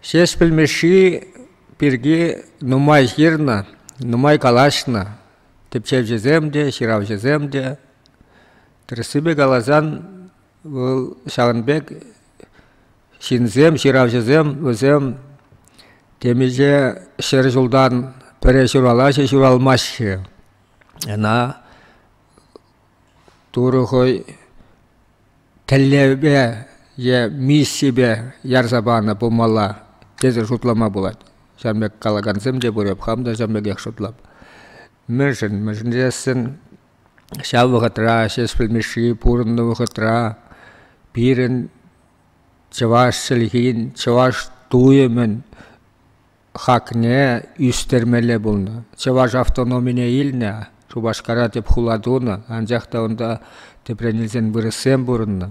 Ҫеҫпӗл Мишши пирки нумай ҫырнӑ, нумай калаҫнӑ тӗпчевҫӗсем те, ҫыравҫӑсем те. Тӗрӗссипе каласан, вӑл ҫавӑн пек ҫынсем, ҫыравҫӑсем вӗсем темиҫе ҫӗр ҫултан пӗрре ҫуралаҫҫӗ, ҫуралмаҫҫӗ. Ӑна Турӑ хӑй тӗллевпе е миссипе ярса панӑ пулмалла тесе шутлама пулать. Ҫавӑн пек калакансем те пур, эп хам та ҫавӑн пекех шутлап. Мӗншӗн? Мӗншӗн тесен ҫав вӑхӑтра Ҫеҫпӗл Мишши пурӑннӑ вӑхӑтра пирӗн чӑваш чӗлхин, чӑваш туйӑмӗн хакне ӳстермелле пулнӑ. Чӑваш автономине илнӗ, Шупашкара тӗп хула тунӑ, анчах та унта тӗпрен илсен вырӑссем пурӑннӑ.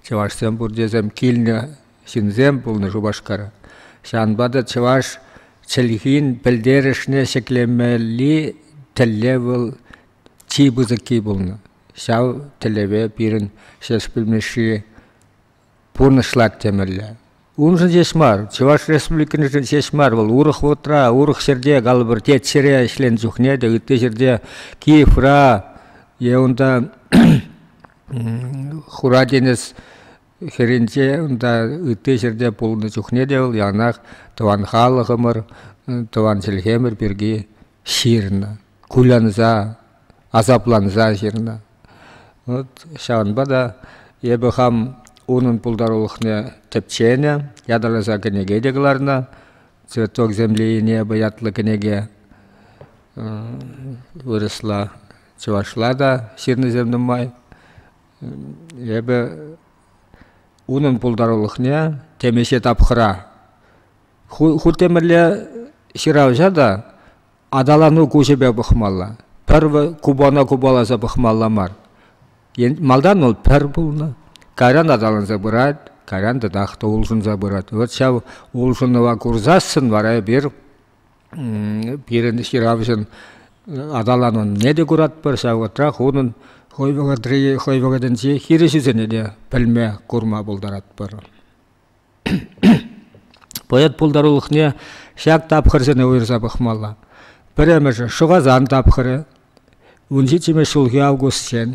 Чӑвашсем пур тесем килнӗ ҫынсем пулнӑ Шупашкара. Ҫавӑнпа та чӑваш чӗлхин пӗлтерӗшне ҫӗклемелли тӗллев вӑл чи пысӑкки пулнӑ. Ҫав тӗллеве пирӗн Ҫеҫпӗл Мишши пурнӑҫлать темелле. Уншӑн ҫеҫ мар, Чӑваш Республикиншӗн ҫеҫ мар, вӑл урӑх вӑхӑтра, урӑх ҫӗрте, калӑпӑр, тет ҫӗре ӗҫленӗ чухне те, ытти ҫӗрте, Киевра е унта Хура тинӗс хӗрринче, унта ытти ҫӗрте пулнӑ чухне те вӑл яланах тӑван халӑхӑмӑр, тӑван чӗлхемӗр пирки ҫырнӑ. кулянса, асапланса ҫырнӑ. Вот ҫавӑнпа та эпӗ хам унӑн пултарулӑхне тӗпченӗ, ятарласа кӗнеке те кӑларнӑ. «Цветок земли и неба» ятлӑ кӗнеке вырӑсла, чӑвашла та ҫырнисем нумай. Эпӗ унӑн пултарулӑхне темиҫе тапхӑра, ху, ху темӗрле ҫыравҫа та Аталану куҫӗпе пӑхмалла. Пӗр купона купаласа пӑхмалла мар. Малтан вӑл пӗр пулнӑ, кайран аталанса пырать, кайран татах та улшӑнса пырать. Вот ҫав улшӑнӑва курсассӑн вара эпир пирӗн ҫыравҫӑн аталанӑвне те куратпӑр, ҫав вӑхӑтрах унӑн хӑй вӑхӑтри хӑй вӑхӑтӗнчи хирӗҫӳсене те пӗлме, курма пултаратпӑр. Поэт пултарулӑхне ҫак тапхӑрсене уйӑрса пӑхмалла. Пӗрремӗшӗ Шӑхасан тапхӑрӗ, вун ҫиччӗмӗш ҫулхи августчен,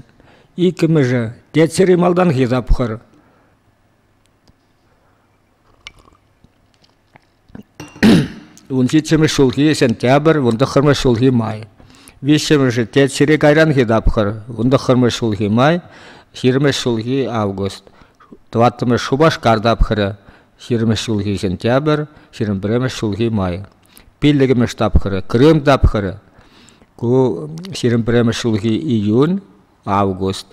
иккӗмӗшӗ Тетсӗри малтанхи тапхӑр. Ун ҫиччӗмӗш ҫулхи сентябрь, вун тӑххӑрмӗш ҫулхи май. Виҫҫӗмӗшӗ те чире кайранхи тапхӑр, вун тӑххӑрмӗш ҫулхи май, ҫирӗммӗш ҫулхи август, тӑваттӑмӗш Шупашкар тапхӑрӗ, ҫирӗммӗш ҫулхи сентябрь, ҫирӗм пӗрремӗш ҫулхи май. Пиллӗкмӗш тапхӑрӗ Крым тапхӑрӗ. Ку ҫирӗм пӗрремӗш ҫулхи июнь, август.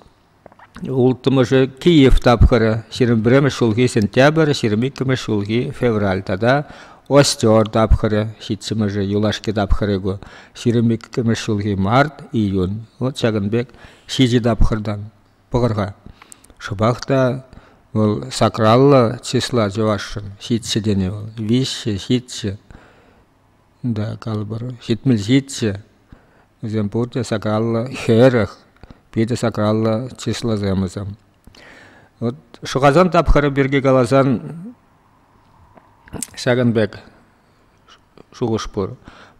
Улттӑмӗшӗ – Киев тапхӑрӗ, ҫирӗм пӗрремӗш ҫулхи сентябрь, ҫирӗм иккӗмӗш ҫулхи февраль тата Остер тапхӑрӗ, ҫиччӗмӗшӗ – юлашки тапхӑрӗ ку, ҫирӗм иккӗмӗш ҫулхи март, июнь. Вот ҫакӑн пек ҫичӗ тапхӑртан пӑхӑр-ха. Шӑпах та вӑл сакраллӑ числа чӑвашшӑн, ҫиччӗ тенӗ вӑл, виҫҫӗ, ҫиччӗ. Да калӑпӑр ҫитмӗл ҫиччӗ. Вӗсем пурте сакаллӑ хӗрӗх, питӗ сакаллӑ чыслӑсем вӗсем. Вот шӑхасан тапхӑрӗ пирки каласан ҫакӑн пек шухӑш пур.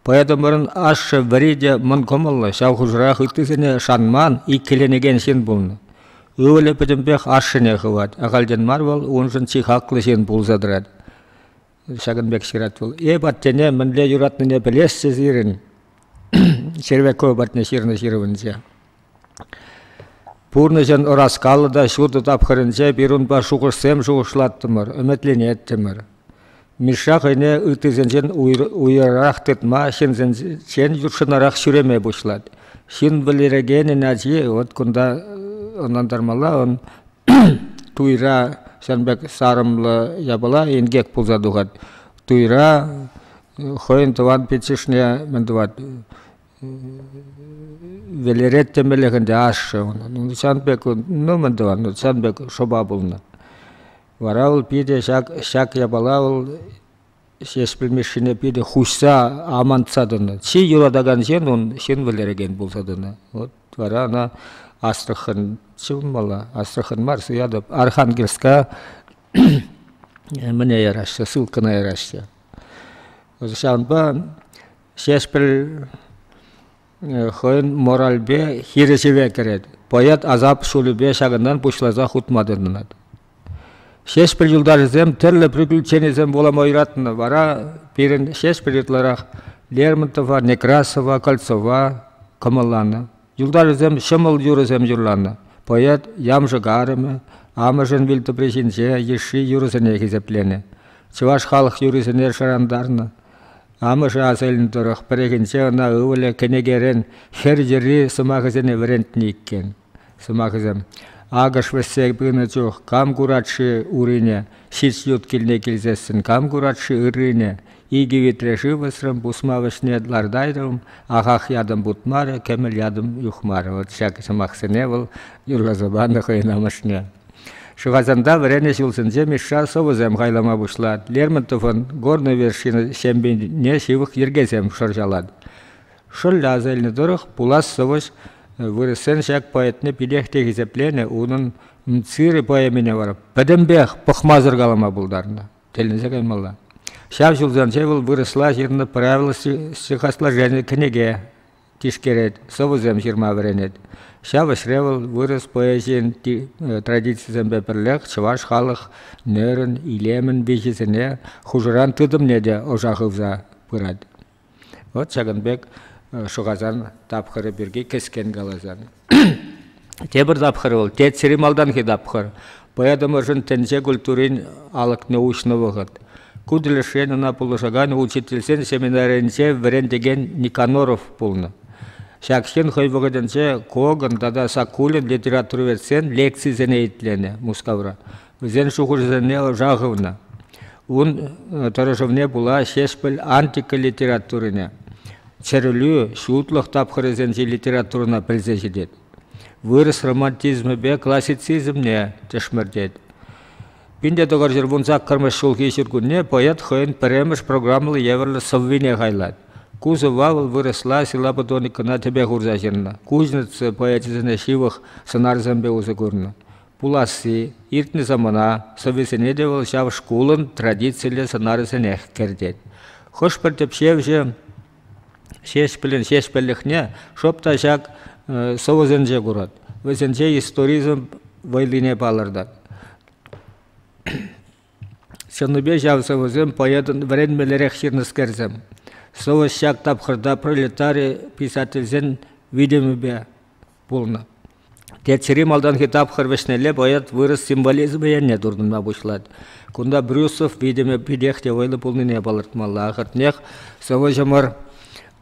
Поэтӑмӑрӑн ашшӗ вӗри те мӑн кӑмӑллӑ, ҫав хушӑрах ыттисене шанман, иккӗленекен ҫын пулнӑ. Ывӑлӗ пӗтӗмпех ашшӗне хывать, ахальтен мар вӑл уншӑн чи хаклӑ ҫын пулса тӑрать. Ҫакӑн пек ҫырать вӑл. Эп аттене мӗнле юратнине пӗлесчӗ сирӗн. Червяков патне ҫырнӑ ҫырӑвӗнче. Пурнӑҫӑн ӑраскаллӑ та ҫутӑ тапхӑрӗнче пирунпа шухӑшсем шухӑшлаттӑмӑр, ӗмӗтленеттӗмӗр. Мишша хӑйне ыттисенчен уйрӑрах тытма, ҫынсенчен ютшӑнарах ҫӳреме пуҫлать. Ҫын вӗлерекенӗн ачи, вот кунта ӑнлантармалла, он туйра ҫавӑн пек сарӑмлӑ япала инкек пулса тухать. Туйра хӑйӗн тӑван пиччӗшне мӗн тӑвать вӗлерет темеллех ӗнтӗ ашшӗ ӑна. Ну, ҫавӑн пек, ну мӗн тӑван, ну, ҫавӑн пек шӑпа пулнӑ. Вара вӑл питӗ ҫак, ҫак япала вӑл Ҫеҫпӗл Мишшине питӗ хуҫса, амантса тӑнӑ. Чи юратакан ҫын ун ҫын вӗлерекен пулса тӑнӑ. Вот вара ӑна Астрахань ҫывӑрмалла. Астрахань мар, суятӑп. Архангельска мӗне яраҫҫӗ, ссылкӑна яраҫҫӗ. Ҫавӑнпа Ҫеҫпӗл хӑйӗн моральпе хирӗҫӗве кӗрет. Поэт асап ҫулӗпе ҫакӑнтан пуҫласа хутма тытӑнать. Ҫеҫпӗл юлташӗсем тӗрлӗ приключенисем вулама юратнӑ. Вара пирӗн Ҫеҫпӗл ытларах Лермонтова, Некрасова, Кольцова кӑмӑлланӑ. Юлташӗсем ҫӑмӑл юрӑсем юрланӑ. Поэт ямшӑк арӑмӗ амӑшӗн вилтӑпри ҫинче йышши юрӑсене хисепленӗ. Чӑваш халӑх юррисене шӑрантарнӑ. Амӑшӗ аса илнӗ тӑрӑх пӗррехинче ӑна ывӑлӗ кӗнекерен хӗр йӗрри сӑмахӗсене вӗрентнӗ иккен. Сӑмахӗсем акӑш вӗҫсе пынӑ чух кам курать-ши урине, ҫич ют килне килсессӗн кам курать-ши ыррине, икӗ витре шыв ӑсрӑм пусма вӗҫне лартайтӑм, ахах ятӑм путмарӗ, кӗмӗл ятӑм юхмарӗ. Вот ҫак сӑмахсене вӑл юрласа панӑ хӑйӗн амӑшне. Шӑхасанта вӗреннӗ ҫулсенче Мишша сӑвӑсем хайлама пуҫлать. Лермонтовӑн «Горная вершина» ҫемйине ҫывӑх йӗркесем шӑрҫалать. Шӑллӗ асӑннӑ тӑрӑх пулас сӑвӑҫ вырӑссен ҫак поэтне питех те хисепленӗ, унӑн Циры поэмине вара пӗтӗмпех пӑхмасӑр калама пултарнӑ, тӗлӗнсе каймалла. Ҫав ҫулсенче вӑл вырӑсла ҫырнӑ правила стихосложени кӗнеке тишкерет, сӑвӑсем ҫырма вӗренет. Ҫав ӗҫре вӑл вырӑс поэзийӗн традицийӗсемпе пӗрлех чӑваш халӑхӗн, илемӗн виҫисене хушӑран тытӑмне те ӑша хывса пырать. Вӑт ҫакӑн пек шӑхасан тапхӑрӗ пирки кӗскен каласан. Тепӗр тапхӑр вӑл тетсӗри малтанхи тапхӑр. Поэтӑмӑршӑн тӗнче культурин алӑкне уҫнӑ вӑхӑт. Ку тӗлӗшрен ӑна пулӑшакан учительсен семинарӗнче вӗрентекен Никоноров пулнӑ. Ҫак ҫын хӑй вӑхӑтӗнче Коган тата Сакулин литературоведсен лекцисене итленӗ Мускавра. Вӗсен шухӑшӗсене ӑша хывнӑ. Ун тӑрӑшӑвне пула Ҫеҫпӗл антика литературине, чӗрӗлӳ, ҫутлӑх тапхӑрӗсенчи литературӑна пӗлсе ҫитет. Вырӑс романтизмӗпе классицизмне тӗшмӗртет. 1900 вун саккӑрмӗш ҫулхи ҫуркунне поэт хӑйӗн пӗрремӗш программӑллӑ евӗрлӗ сӑввине хайлать. Ку сӑвва вӑл вырӑсла силлаботоникӑна тӗпе хурса ҫырнӑ. Кузнецов поэчӗсене ҫывӑх сӑнарсемпе усӑ курнӑ. Пуласси иртнӗ самана сӑвӑсене те вӑл ҫав шкулӑн традициллӗ сӑнарӗсенех кӗртет. Хӑш-пӗр тӗпчевҫӗ Ҫеҫпӗлӗн ҫеҫпӗллӗхне шӑп та ҫак сӑвӑсенче курать, вӗсенче историзм вӑйлине палӑртать. Чӑннипе ҫав сӑвӑсем поэтӑн вӗренмеллерех ҫырнӑскерсем. Сӑвӑҫ ҫак тапхӑрта пролетари писательсен витӗмӗпе, пулнӑ. Теччӗри малтанхи тапхӑр вӗҫнелле поэт вырӑс символизмӗ енне туртӑнма пуҫлать. Кунта Брюсов витӗмӗ питех те вӑйлӑ пулнине палӑртмалла. Ахӑртнех, сӑвӑҫӑмӑр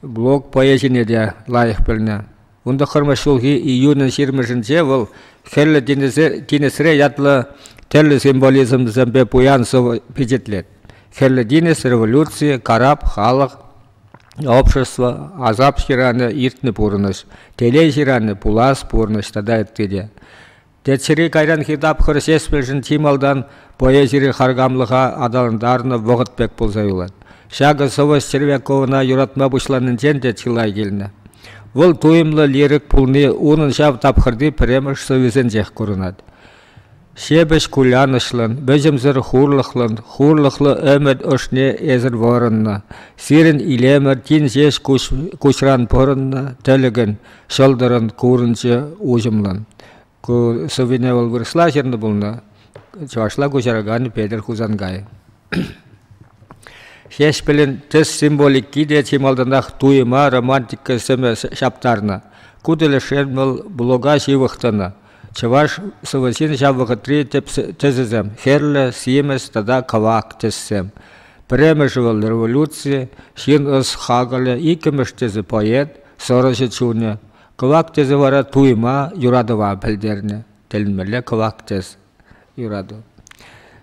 блог поэзине те лайӑх пӗлнӗ. Ун тӑххӑрмӗш ҫулхи июнӗн ҫирмӗшӗнче вӑл Хӗрлӗ тинӗсре ятлӑ тӗрлӗ символизмсемпе пуян сӑвӑ пичетлет. Хӗрлӗ тинӗс, революци, карап, халӑх, Общество асап ҫыранӗ иртнӗ пурӑнӑҫ, телей ҫыранӗ пулас пурӑнӑҫ тата ытти те. Теччӗри кайранхи тапхӑр ҫеҫмӗлшӗн чи малтан поэзири харкамлӑха аталантарнӑ вӑхӑт пек пулса юлать. Ҫакӑ сӑвӑҫ Червяковӑна юратма пуҫланинчен те чылай килнӗ. Вӑл туйӑмлӑ лирик пулни унӑн ҫав тапхӑрти пӗрремӗш сӑввисенчех курӑнать. Ҫепӗҫ кулянӑҫлӑн, вӗҫӗмсӗр хурлӑхлӑн, хурлӑхлӑ ӗмӗт ӑшне эсӗр вӑрӑннӑ. Сирӗн илемӗр тин ҫеҫ куҫран пӑрӑннӑ тӗлӗкӗн ҫӑлтӑрӑн курӑнчӗ уҫӑмлӑн. Ку сӑввине вӑл вырӑсла ҫырнӑ пулнӑ, чӑвашла куҫаракан Петӗр Хусанкай. Ҫеҫпӗлӗн тӗс символики те чи малтанах туйӑма романтика сӗмӗ ҫаптарнӑ. Ку тӗлӗшрен вӑл блога ҫывӑх тӑнӑ. Чӑваш сӑвӑсен ҫав вӑхӑтри тӗп тӗсӗсем – хӗрлӗ, симӗс тата кӑвак тӗссем. Пӗрремӗшӗ вӑл революци, ҫын ӑс хакӑлӗ, иккӗмӗш тӗсӗ – поэт, сӑрӑҫӑ чунӗ. Кӑвак тӗсӗ вара туйӑма, юратӑва пӗлтернӗ. тӗлӗнмелле кӑвак тӗс юрату.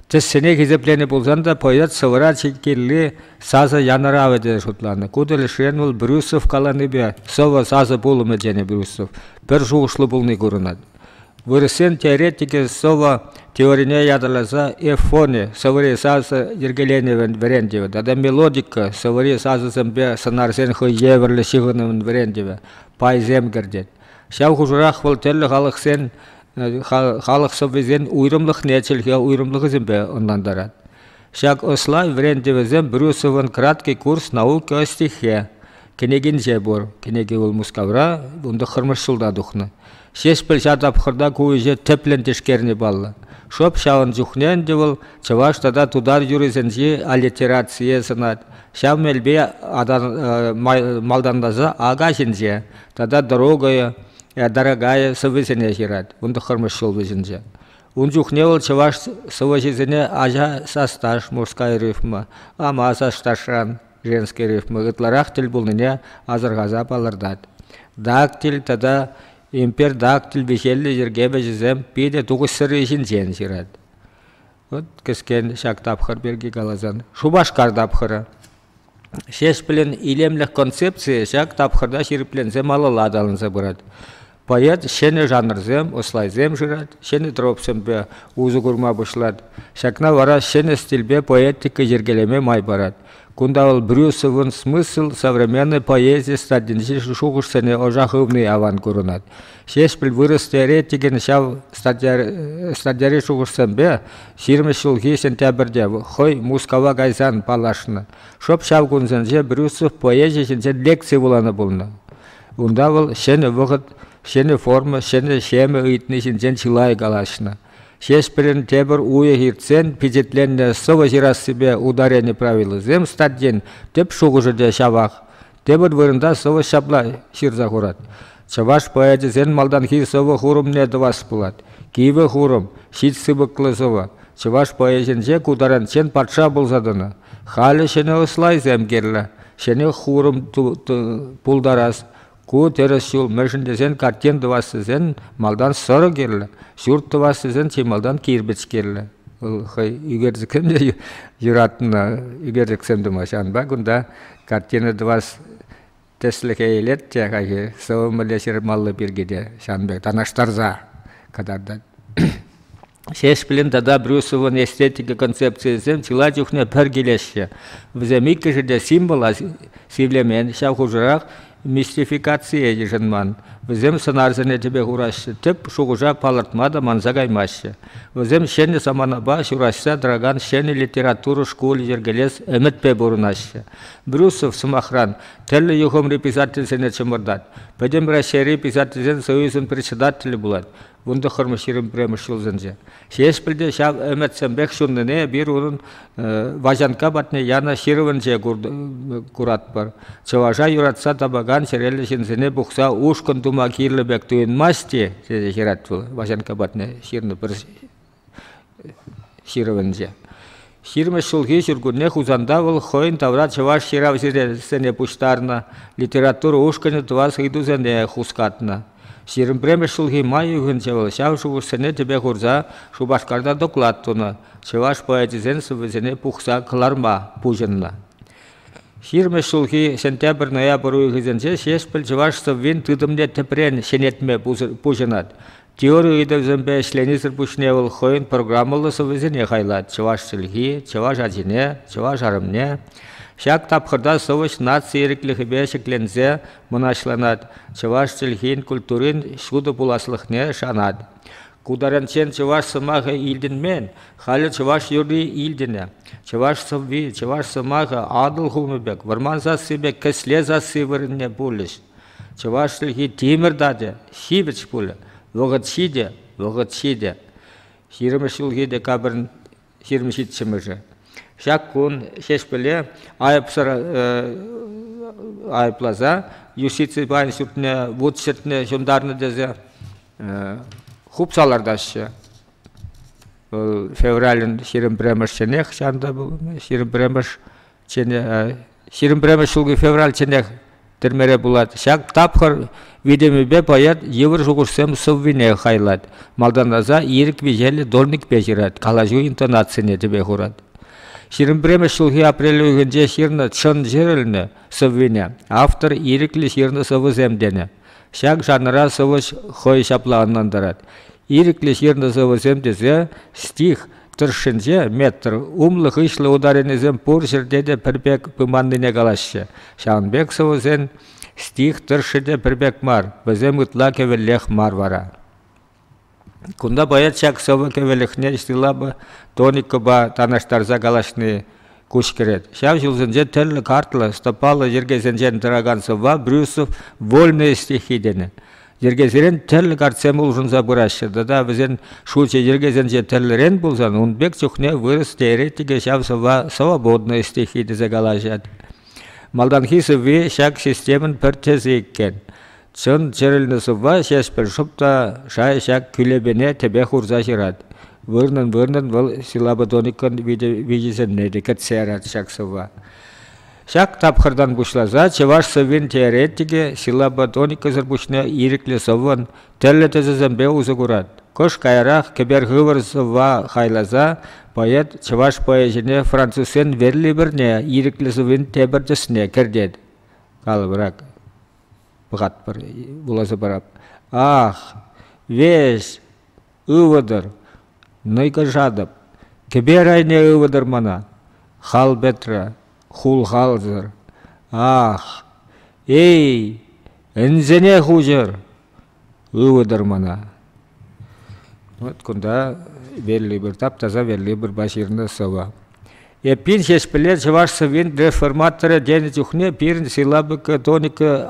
Тӗссене хисепленӗ пулсан та поэт сӑвӑра чиккелли сасӑ янӑравӗ тесе шутланӑ. Ку тӗлӗшрен вӑл Брюсов каланипе «сӑвӑ сасӑ пулӑмӗ» тенӗ Брюсов пӗр шухӑшлӑ пулни курӑнать. Вырӑссен теоретикӗ сӑвӑ теорине ятарласа эфони сӑвӑри сасӑ йӗркеленӗвӗн вӗрентӗвӗ тата мелодика сӑвӑри сасӑсемпе сӑнарсен хӑй евӗрлӗ ҫыхӑнӑвӗн вӗрентӗвӗ пайсем кӗртет. Ҫав хушӑрах вӑл тӗрлӗ халӑхсен халӑх сӑввисен уйрӑмлӑхне чӗлхе уйрӑмлӑхӗсемпе ӑнлантарать. Ҫак ӑслав вӗрентӗвӗсем Брюсовӑн «Краткий курс науки о стихе» кӗнекинче пур. Кӗнеке вӑл Мускавра вун тӑххӑрмӗш ҫулта тухнӑ. Ҫеҫпӗл ҫав тапхӑрта ку ӗҫе тӗплӗн тишкерни паллӑ. Шӑп ҫавӑн чухне ӗнтӗ вӑл чӑваш тата тутар юрӑсенчи аллитерацие сӑнать. Ҫав мелпе малтанласа ака ҫинче тата Дорогая, э, Дорогая сӑвӑсене ҫырать. Вун тӑххӑрмӗш ҫул вӗҫӗнче. Ун чухне вӑл чӑваш сӑвӑҫисене ача састаш, мужская рифма, ама састашран женский рифма ытларах тӗл пулнине асӑрхаса палӑртать. Дактиль тата импердактиль виҫеллӗ йӗрке вӗҫӗсем питӗ тухӑҫсӑрри ҫинчен ҫырать. Вот кӗскен ҫак тапхӑр пирки каласан. Шупашкар тапхӑрӗ. Ҫеҫпӗлӗн илемлӗх концепцийӗ ҫак тапхӑрта ҫирӗпленсе малалла аталанса пырать. Поэт ҫӗнӗ жанрсем, услайсем шырать, ҫӗнӗ тропсемпе усӑ курма пуҫлать. Ҫакна вара ҫӗнӗ стильпе поэтика йӗркелеме май парать. Кунта вӑл Брюсовӑн смысл современнӑй поэзи статйинчи шухӑшсене ӑша хывни аван курӑнать. Ҫеҫпӗл вырӑс теоретикӗн ҫав статьяри шухӑшсемпе ҫирӗм ҫулхи сентябрьте хӑй Мускава кайсан паллашнӑ. Шӑп ҫав кунсенче Брюсов поэзи ҫинчен лекци вуланӑ пулнӑ. Унта вӑл ҫӗнӗ вӑхӑт, ҫӗнӗ форма, ҫӗнӗ ҫемӗ ыйтни ҫинчен чылай калаҫнӑ. Ҫеҫпӗлӗн тепӗр уйӑх иртсен пичетленнӗ «Сӑвӑ ҫырассипе ударени правилисем» статьин тӗп шухӑшӗ те ҫавах. Тепӗр вырӑнта сӑвӑ ҫапла ҫырса хурать. Чӑваш поэчӗсен малтанхи сӑвӑ-хурӑмне тӑвас пулать. Кивӗ хурӑм, ҫич сыпӑклӑ сӑвӑ. Чӑваш поэчӗнче ку таранччен патша пулса тӑнӑ. Халӗ ҫӗнӗ ӑслайсем кирлӗ. Ҫӗнӗ хурӑм пултарас. Ку тӗрӗс ҫул мӗншӗн тесен картин тӑвас тесен малтан сӑрӑ кирлӗ, ҫурт тӑвас тесен чи малтан кирпӗч кирлӗ. Хӑй ӳкерчӗксем те юратнӑ ӳкерчӗксем тумаҫҫӗ. Ҫавӑнпа кунта Картина тӑвас тӗслӗхе илет те хайхи сӑвӑмӗлле ҫырмалли пирки те ҫавӑн пек танлаштарса кӑтартать. Ҫеҫпӗлин тата Брюсовӑн эстетика концепцийӗсем чылай чухне пӗр килеҫҫӗ. Вӗсем иккӗшӗ те символа сивлемен, ҫав хушӑрах мистификацие йышӑнман. Вӗсем сӑнарсене тӗпе хураҫҫӗ, тӗп шухӑша палӑртма та манса каймаҫҫӗ. Вӗсем ҫӗнӗ саманапа ҫураҫса тӑракан ҫӗнӗ литература шкулӗ йӗркелес ӗмӗтпе пурӑнаҫҫӗ. Брюсов, сӑмахран, тӗрлӗ юхӑмри писательсене чӑмӑртать. Пӗтӗм Раҫҫейри писательсен союзӗн председателӗ пулать. вун тӑххӑрмӗш ҫирӗм пӗрремӗш ҫулсенче. Ҫеҫпӗл те ҫав ӗмӗтсемпех ҫуннине эпир унӑн Ваҫанкка патне янӑ ҫырӑвӗнче куратпӑр. Чӑваша юратса тапакан чӗреллӗ ҫынсене пухса ушкӑн тума кирлӗ пек туйӑнмасть-и, тесе ҫырать вӑл Ваҫанкка патне ҫырнӑ пӗр ҫырӑвӗнче. 20 ҫулхи ҫуркунне Хусанта вӑл хӑйӗн тавра чӑваш ҫыравҫисене пуҫтарнӑ литература ушкӑнӗ тӑвас ыйтусене хускатнӑ. Ҫирӗмпремӗш ҫулхи май уйӑхӗнче вӑл ҫав шухӑшсене тӗпе хурса Шупашкарта доклад тунӑ, чӑваш поэчӗсен сӑввисене пухса кӑларма пуҫӑннӑ. 20 ҫулхи сентябрь-ноябрь уйӑхӗсенче Ҫеҫпӗл чӑваш сӑввин тытӑмне тӗпрен ҫӗнетме пуҫӑнать. Теори ыйтӑвӗсемпе ӗҫленисӗр пуҫне вӑл хӑйӗн программӑллӑ сӑвӑсене хайлать чӑваш чӗлхи, чӑваш ачине, чӑваш арӑмне. Ҫак тапхӑрта сӑвӑҫ наци ирӗклӗхӗпе ҫӗкленсе мӑнаҫланать, чӑваш чӗлхин культурин ҫутӑ пуласлӑхне шанать. Ку таранччен чӑваш сӑмахӗ илтӗнмен, халӗ чӑваш юрри илтӗнӗ. Чӑваш сӑвви, чӑваш сӑмахӗ Атӑл хумӗ пек, вӑрман сасси пек кӗсле сасси вырӑнне пулӗҫ. Чӑваш чӗлхи тимӗр тачӑ ҫивӗч пулӗ, вӑхӑт ҫитӗ, вӑхӑт ҫитӗ. Ҫирӗммӗш ҫулхи декабрьӑн ҫирӗм ҫиччӗмӗшӗ. Ҫак кун Ҫеҫпӗле айӑпсӑр айӑпласа юстици пайӗн ҫуртне вут ҫӗртме ҫунтарнӑ тесе хупса лартаҫҫӗ. Вӑл февралӗн ҫирӗм пӗрремӗшчӗнех ҫантӑ пулнӑ, ҫирӗм пӗрремӗш ҫирӗм пӗрремӗш ҫулхи февраль чӑннех тӗрмере пулать. Ҫак тапхӑр витӗмӗпе поэт йывӑр шухӑшсем сӑввине хайлать, малтанласа ирӗк виҫеллӗ дольникпе ҫырать, калаҫу интонацине тӗпе хурать. Ҫирӗм пӗрремӗш ҫулхи апрель уйӑхӗнче ҫырнӑ чӑн ҫырӑлнӑ сӑввине автор ирӗклӗ ҫырнӑ сӑвӑсем тенӗ. Ҫак жанра сӑвӑҫ хӑй ҫапла ӑнлантарать. Ирӗклӗ ҫырнӑ сӑвӑсем тесе стих тӑршшӗнче метр умлӑ-хыҫлӑ ударенисем пур ҫӗрте те пӗр пек пыманнине калаҫҫӗ. Ҫавӑн пек сӑвӑсен стих тӑршшӗ те пӗр пек мар, вӗсем ытла кӗвӗллех мар вара. Кунта поэт ҫак сӑвӑ кӗвӗлӗхне стилапа, тоникӑпа танлаштарса калаҫни, куҫ кӗрет. Ҫав ҫулсенче тӗрлӗ картлӑ, стӑпаллӑ йӗркесенчен тӑракан сӑвва Брюсов «Вольные стихи» тенӗ. Йӗркесерен тӗрлӗ картсем улшӑнса пыраҫҫӗ тата вӗсен шучӗ йӗркесенче тӗрлӗрен пулсан ун пек чухне вырӑс теоретикӗ ҫав сӑвва «Свободные стихи» тесе калаҫать. Малтанхи сӑвви ҫак системӑн пӗр тӗсӗ иккен. Чӑн чӗрӗлнӗ сӑвва Ҫеҫпӗл шӑп та шай ҫак кӳлепене тӗпе хурса ҫырать. Вырнӑн-вырнӑн вӑл силлабодоникӑн виҫисене те кӗтсе ярать ҫак сӑвва. Ҫак тапхӑртан пуҫласа чӑваш сӑввин теоретикӗ силлабодоникӑсӑр пуҫне ирӗклӗ сӑввӑн тӗрлӗ тӗсӗсемпе усӑ курать. Кӑш каярах кӗпер хывӑр сӑвва хайласа поэт чӑваш поэчӗне французсен верлиберне ирӗклӗ сӑввин тепӗр тӗсне кӗртет. Калӑпӑрах: пӑхатпӑр, вуласа парап. Ах, веҫ, ывӑтӑр, нӑйкӑшатӑп. Кӗпер айне ывӑтӑр мана, хал пӗтрӗ, хулхалсӑр. Ах, эй, ӗнсене хуҫӑр, Ывӑтӑр мана. Вот кунта велли пӗр тап-таса велли пӗрпа ҫырнӑ сӑвӑ. Эппин ҫеҫпӗле чӑваш сӑввин реформаторӗ тенӗ чухне пирӗн силабика тоника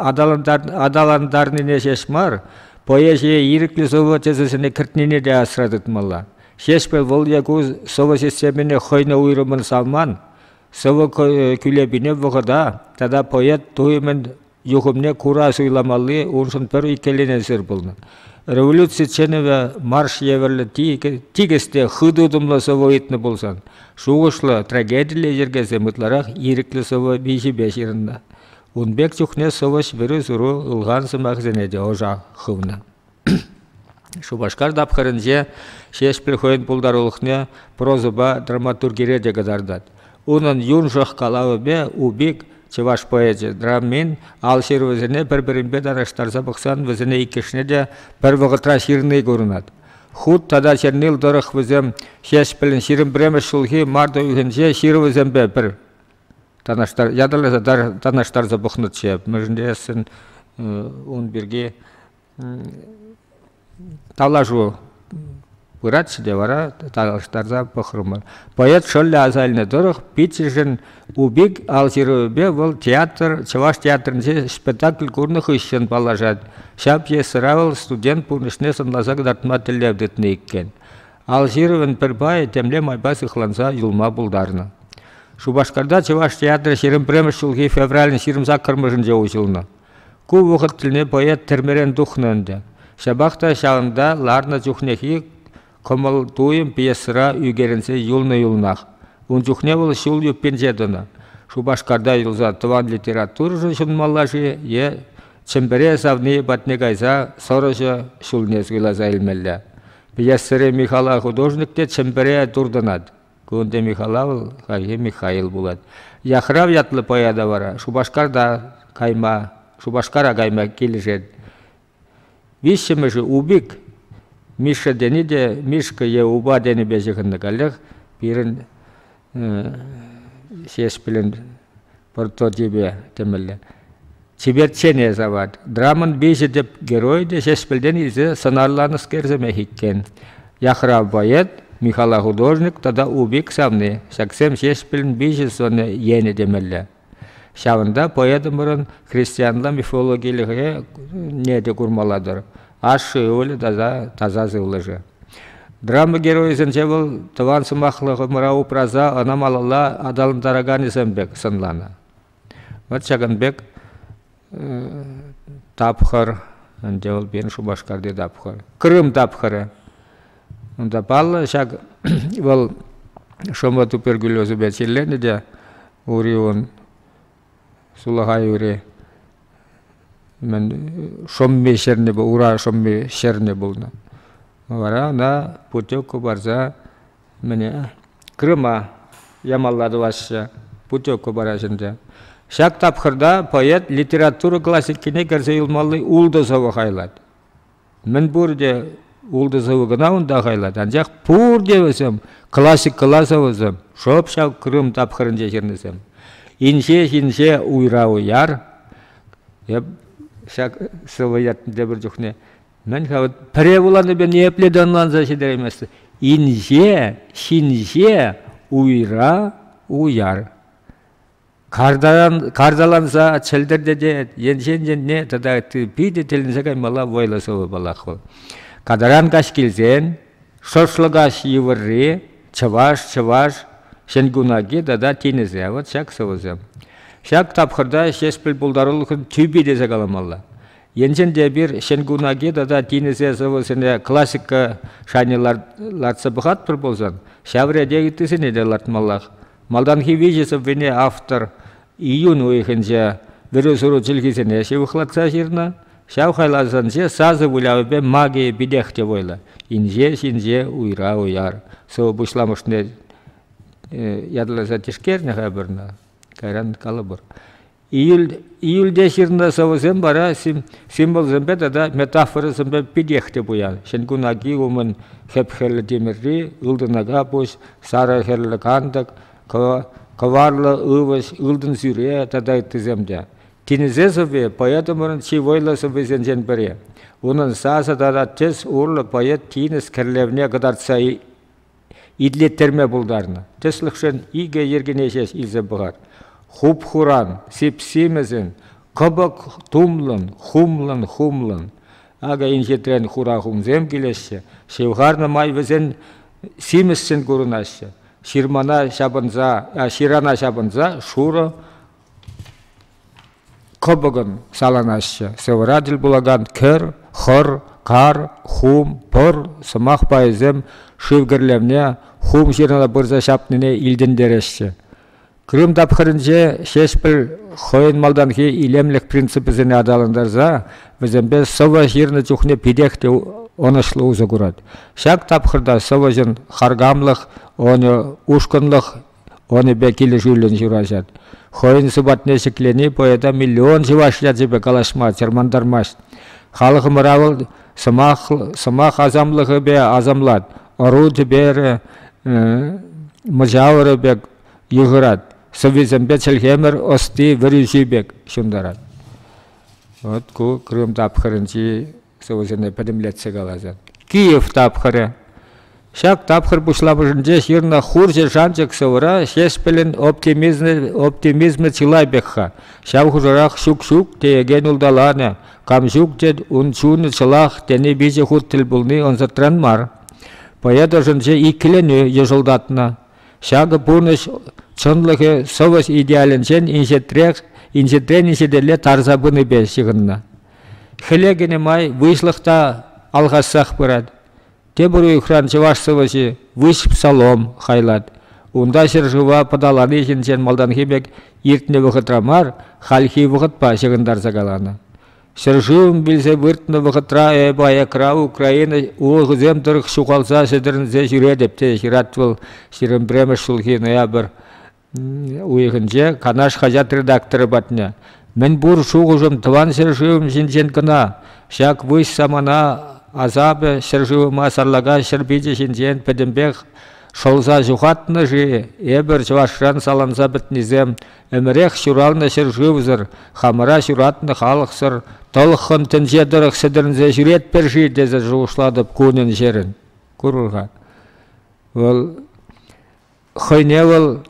аталантарнине ҫеҫ мар, поэзие ирӗклӗ сӑвӑ тӗсӗсене кӗртнине те асра тытмалла. Ҫеҫпӗл вӑл е ку сӑвӑ системине хӑйне уйрӑммӑн савман, сӑвӑ кӳлепине вӑхӑта тата поэт туйӑмӗн юхӑмне кура суйламалли уншӑн пӗр иккӗленесӗр пулнӑ. Революци чӗнӗвӗ марш евӗрлӗ тикӗс те хытӑ утӑмлӑ сӑвӑ ыйтнӑ пулсан, шухӑшлӑ трагедилле йӗркесем ытларах ирӗклӗ сӑвӑ виҫипе ҫырӑннӑ. Ун пек чухне сӑвӑҫ вӗрӳ-суру ылхан сӑмахсене те ӑша хывнӑ. Шупашкар тапхӑрӗнче Ҫеҫпӗл хӑйӗн пултарулӑхне прозӑпа драматургире те кӑтартать. Унӑн юншӑх калавӗпе Упик чӑваш поэчӗ драмин ал ҫырӑвӗсене пӗр-пӗринпе танлаштарса пӑхсан вӗсене иккӗшне те пӗр вӑхӑтра ҫырни курӑнать. Хут тата Чернил тӑрӑх вӗсем Ҫеҫпӗлӗн ҫирӗм пӗрремӗш ҫулхи март уйӑхӗнче ҫырӑвӗсемпе пӗр танлаштар ятарласа танлаштарса пӑхнӑччӗ. Мӗншӗн тесен ун пирки Калашу пыратчӗ те вара танлаштарса пӑхрӑмӑр. Поэт шӑллӗ аса илнӗ тӑрӑх Питӗршӗн Убик алҫырӑвӗпе вӑл театр, Чӑваш театрӗнче спектакль курнӑ хыҫҫӑн паллашать. Ҫав пьесӑра вӑл студент пурнӑҫне сӑнласа кӑтартма тӗллев тытнӑ иккен. Алҫырӑвӑн пӗр пайӗ темле майпа сыхланса юлма пултарнӑ. Шупашкарта Чӑваш театрӗ ҫирӗм пӗрремӗш ҫулхи февралӗн ҫирӗм саккӑрмӗшӗнче уҫӑлнӑ. Ку вӑхӑт тӗлне поэт тӗрмерен тухнӑ ӗнтӗ. Ҫапах та ҫавӑнта ларнӑ чухнехи кӑмӑл-туйӑм пьесӑра ӳкерӗнсе юлнӑ-юлнах. Ун чухне вӑл ҫул юппинче тӑнӑ. Шупашкарта юлса тӑван литературӑшӑн ҫунмалла-ши е Чӗмпӗре савни патне кайса сӑрӑҫӑ ҫулне суйласа илмелле? Пьесӑри Михала художник те Чӗмпӗре туртӑнать. Клавдия Михайлова вӑл Хальхи Михаил пулать. Яхрав ятлӑ поэта вара Шупашкарта кайма, Шупашкара кайма килӗшет. Виҫҫӗмӗшӗ Убик Мишша тени те Мишка е Упа тенипе ҫыхӑннӑ каллех пирӗн Ҫеҫпӗлӗн прототипе тӗмелле. Чиперччене савать. Драмӑн виҫӗ тӗп герой те Ҫеҫпӗлтен илсе сӑнарланӑскер сӗмех иккен. Яхрав поэт, Михала художник тата Убик савни. Ҫаксем Ҫеҫпӗлӗн виҫӗ сӑнӗ енӗ темелле. Ҫавӑнта поэтӑмӑрӑн христианла мифологилӗхе не те курмалла-тӑр. Ашшӗ ывӑлӗ таса, таса сывлӑшӗ. Драма геройӗсенче вӑл тӑван сӑмахлӑхӑмӑра упраса ӑна малалла аталантараканӗсем пек сӑнланӑ. Вӑт ҫакӑн пек тапхӑр ӗнтӗ вӑл пирӗн Шупашкарти тапхӑр. Крым тапхӑрӗ. Унта паллӑ ҫак вӑл шӑмӑ туберкулезӗпе чирленӗ те уривӑн сулахай ури мӗн шӑмми ҫӗрне ура шӑмми ҫӗрне пулнӑ. Вара ӑна путевка парса мӗне Крыма ямалла тӑваҫҫӗ, путевка параҫҫӗ ӗнтӗ. Ҫак тапхӑрта поэт литература классикине кӗрсе юлмалли ултӑ сӑвӑ хайлать. Мӗн пурте ултӑ сӑвӑ кӑна унта хайлать, анчах пурте вӗсем классикӑлла сӑвӑсем, шӑп ҫав Крым тапхӑрӗнче ҫырнисем. Инҫех инҫе уйра уяр. Эп ҫак сӑвӑ ятне тепӗр чухне Мӗн-ха вот пӗре вуланипе ниепле те ӑнланса ҫитерейместӗн. Инҫе, ҫинҫе, уйра, уяр. Картаран, карталанса чӗлтӗртетет, енчен енне тата ытти питӗ тӗлӗнсе каймалла вӑйлӑ сӑвӑпалах вӑл. Катаран каҫ килсен шӑшлӑкаҫ йывӑрри, чӑваш, чӑваш, ҫӗнкунаки тата тинӗсе, вот ҫак сӑвӑсем. Ҫак тапхӑрта Ҫеҫпӗл пултарулӑхӑн тӳпи тесе каламалла. Енчен те эпир ҫӗнкунаки тата тинӗсе сӑвӑсене классика шайне лартса пӑхатпӑр пулсан, ҫав рете ыттисене те лартмаллах. Малтанхи виҫӗ сӑввине автор июнь уйӑхӗнче вӗрӳ-суру чӗлхисене ҫывӑхлатса ҫырнӑ. Ҫав хайлавсенче сасӑ вылявӗпе магия питех те вӑйлӑ. Инҫе ҫинҫе уйра уяр сӑвӑ пуҫламӑшне ятарласа тишкернӗ-ха пӗр кайран калӑпӑр. Июльте ҫырнӑ сӑвӑсем вара символсемпе тата метафорӑсемпе питех те пуян. Ҫӗнкун аки умӗн хӗп хӗрлӗ тимӗрри, ылтӑн акапуҫ, сарӑ хӗрлӗ кантӑк, кӑварлӑ ывӑҫ, ылтӑн сӳре тата ыттисем те. Тинӗсе сӑвви поэтӑмӑрӑн чи вӑйлӑ сӑввисенчен пӗри. Унӑн сасӑ тата тӗс урлӑ поэт тинӗс кӗрлевне кӑтартса Итлеттерме пултарнӑ. Тӗслӗхшӗн икӗ йӗркене ҫеҫ илсе пӑхар. Хуп-хуран, сип-симӗсен, кӑпӑк тумлӑн, хумлӑн-хумлӑн. Акӑ инҫетрен хура хумсем килеҫҫӗ. Ҫывхарнӑ май вӗсен симӗсшӗн курӑнаҫҫӗ. Ҫырана ҫапӑнса шурӑ Кӑпӑкӑн саланаҫҫӗ сӑвӑра тӗл пулакан кӗр, хӑр, кар, хум, пӑр сӑмах пайӗсем шыв кӗрлевне хум ҫырӑна пырса ҫапнине илтӗнтереҫҫӗ. Крым тапхӑрӗнче Ҫеҫпӗл хӑйӗн малтанхи илемлӗх принципӗсене аталантарса вӗсемпе сӑвӑ ҫырнӑ чухне питех те ӑнӑҫлӑ усӑ курать. Ҫак тапхӑрта сӑвӑҫӑн харкамлӑх, ӑнӗ ушкӑнлӑх Онипе килӗшӳллӗн ҫыраҫать. Хӑйӗн сӑпатне ҫӗклени поэта миллион чӑваш ячӗпе калаҫма чӑрмантармасть. Халӑхӑмӑра вӑл сӑмах, сӑмах асамлӑхӗпе асамлать, ӑру тӗперӗ, мӑчавӑрӗ пек йыхӑрать, сӑввисемпе чӗлхемӗр ӑсти, вӗрӳҫи пек ҫунтарать. Вот ку Крым тапхӑрӗнчи сӑвӑсене пӗтӗмлетсе каласа. Киев тапхӑрӗ. Ҫак тапхӑр пуҫламӑшӗнче ҫырнӑ хурҫӑ шанчӑк сӑвӑра Ҫеҫпӗлӗн оптимизмӗ, оптимизмӗ чылай пек-ха. Ҫав хушӑрах ҫук-ҫук теекен улталанӑ, кам ҫук тет, ун чунӗ чӑлах тени виҫӗ хут тӗл пулни ӑнсӑртран мар. Поэт ӑшӗнче иккӗленӳ йӑшӑлтатнӑ. Ҫакӑ пурнӑҫ чӑнлӑхӗ сӑвӑс идеалӗнчен инҫетрех, инҫетрен инҫетелле тарса пынипе ҫыхӑннӑ. Хӗле кӗнӗ май выҫлӑх та алхассах пырать. Тепӗр уйӑхран чӑваш сӑвӑҫи «Выҫ псалом» хайлать. Унта ҫӗршыва пӑталани ҫинчен малтанхи пек иртнӗ вӑхӑтра мар, хальхи вӑхӑтпа ҫыхӑнтарса каланӑ. Ҫӗршывӑм вилсе выртнӑ вӑхӑтра эп аякра Украина улӑхӗсем тӑрӑх ҫухалса-сӗтӗрӗнсе ҫӳретӗп, те ҫырать вӑл 21 ҫулхи ноябрь уйӑхӗнче Канаш хаҫат редакторӗ патне мӗнпур шухӑшӑм тӑван ҫӗршывӑм ҫинчен кӑна, ҫак выҫ самана асапӗ ҫӗршывӑма сарлака ҫӗр пичӗ ҫинчен пӗтӗмпех шӑлса ҫухатнӑ-ши эпӗр чӑвашран саланса пӗтнисем ӗмӗрех ҫуралнӑ ҫӗршывсӑр, хамӑра ҫуратнӑ халӑхсӑр тӑлӑххӑн тӗнче тӑрӑх сӗтӗрӗнсе ҫӳретпӗр-ши тесе шухӑшлатӑп кунӗн-ҫӗрӗн. Курӑр-ха. Вӑл хӑйне вӑл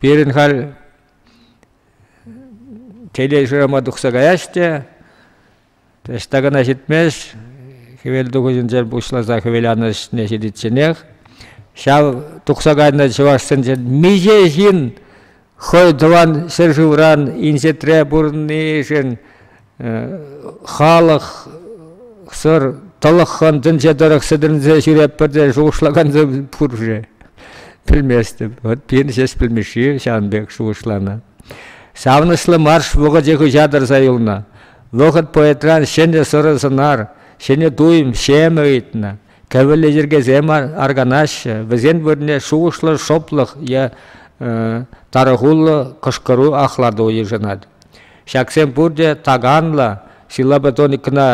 пирӗн халь телешрама тухса каяҫ те ӑҫта кӑна ҫитмест хӗвел тухӑҫӗнче пуҫласа хӗвеланӑ ӗҫне ҫитичченех ҫав тухса кайнӑ чӑвашсенчен миҫе ҫын хӑй тӑван ҫӗршывран инҫетре пурӑннишӗн халӑхсӑр тӑлӑххӑн тӗнче тӑрӑх сӗтӗрӗнсе ҫӳретпӗр те шухӑшлакансем пур-ши? Пӗлместӗп. Вӑт пирӗн ҫеҫ пӗлмешҫи ҫавӑн пек шухӑшланӑ. Савӑнӑҫлӑ марш вӑхӑчӗ хыҫа тӑрса юлнӑ. Вӑхӑт поэтран ҫӗнӗ сӑрӑ сӑнар, ҫӗнӗ туйӑм, ҫемӗ ыйтнӑ. Кӗвӗллӗ йӗркесем арканаҫҫӗ, вӗсен вырӑнне шухӑшлӑ шӑплӑх е тарӑхуллӑ кӑшкӑру ахлату йышӑнать. Ҫаксем пурте таканлӑ силабетоникӑна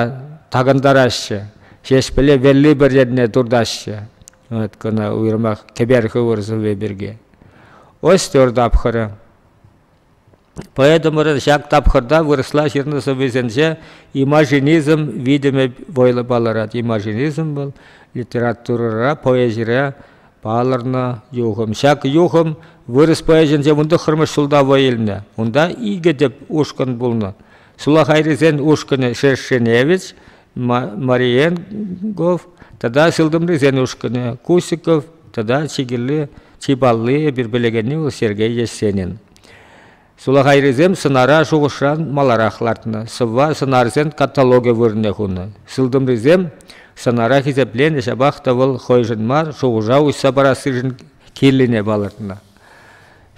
такӑнтараҫҫӗ, Ҫеҫпӗле вэлли пӗр енне туртаҫҫӗ. Вот кӑна уйрӑмах кӗпер хывӑр сывви пирки. Ось тепӗр тапхӑрӗ. Поэтӑмӑрӑн ҫак тапхӑрта вырӑсла ҫырнӑ сӑввисенче имажинизм витӗмӗ вӑйлӑ палӑрать. Имажинизм вӑл литературӑра, поэзире палӑрнӑ юхӑм. Ҫак юхӑм вырӑс поэзинче вун тӑххӑрмӗш ҫулта вӑй илнӗ. Унта икӗ тӗп ушкӑн пулнӑ. Сулахайрисен ушкӑнӗ Шершеневич, Мариенгов тата сылтӑмрисен ушкӑнӗ Кусиков тата чи кирли, чи палли, пир пӗлекенни вӑл Сергей Есенин. Сулахайрисем сӑнара шухӑшран маларах лартнӑ, сӑвва сӑнарсен каталогӗ вырӑнне хунӑ. Сылтӑмрисем сӑнара хисепленӗ ҫапах та вӑл хӑйшӗн мар шухӑша уҫса парассишӗн кирлине палӑртнӑ.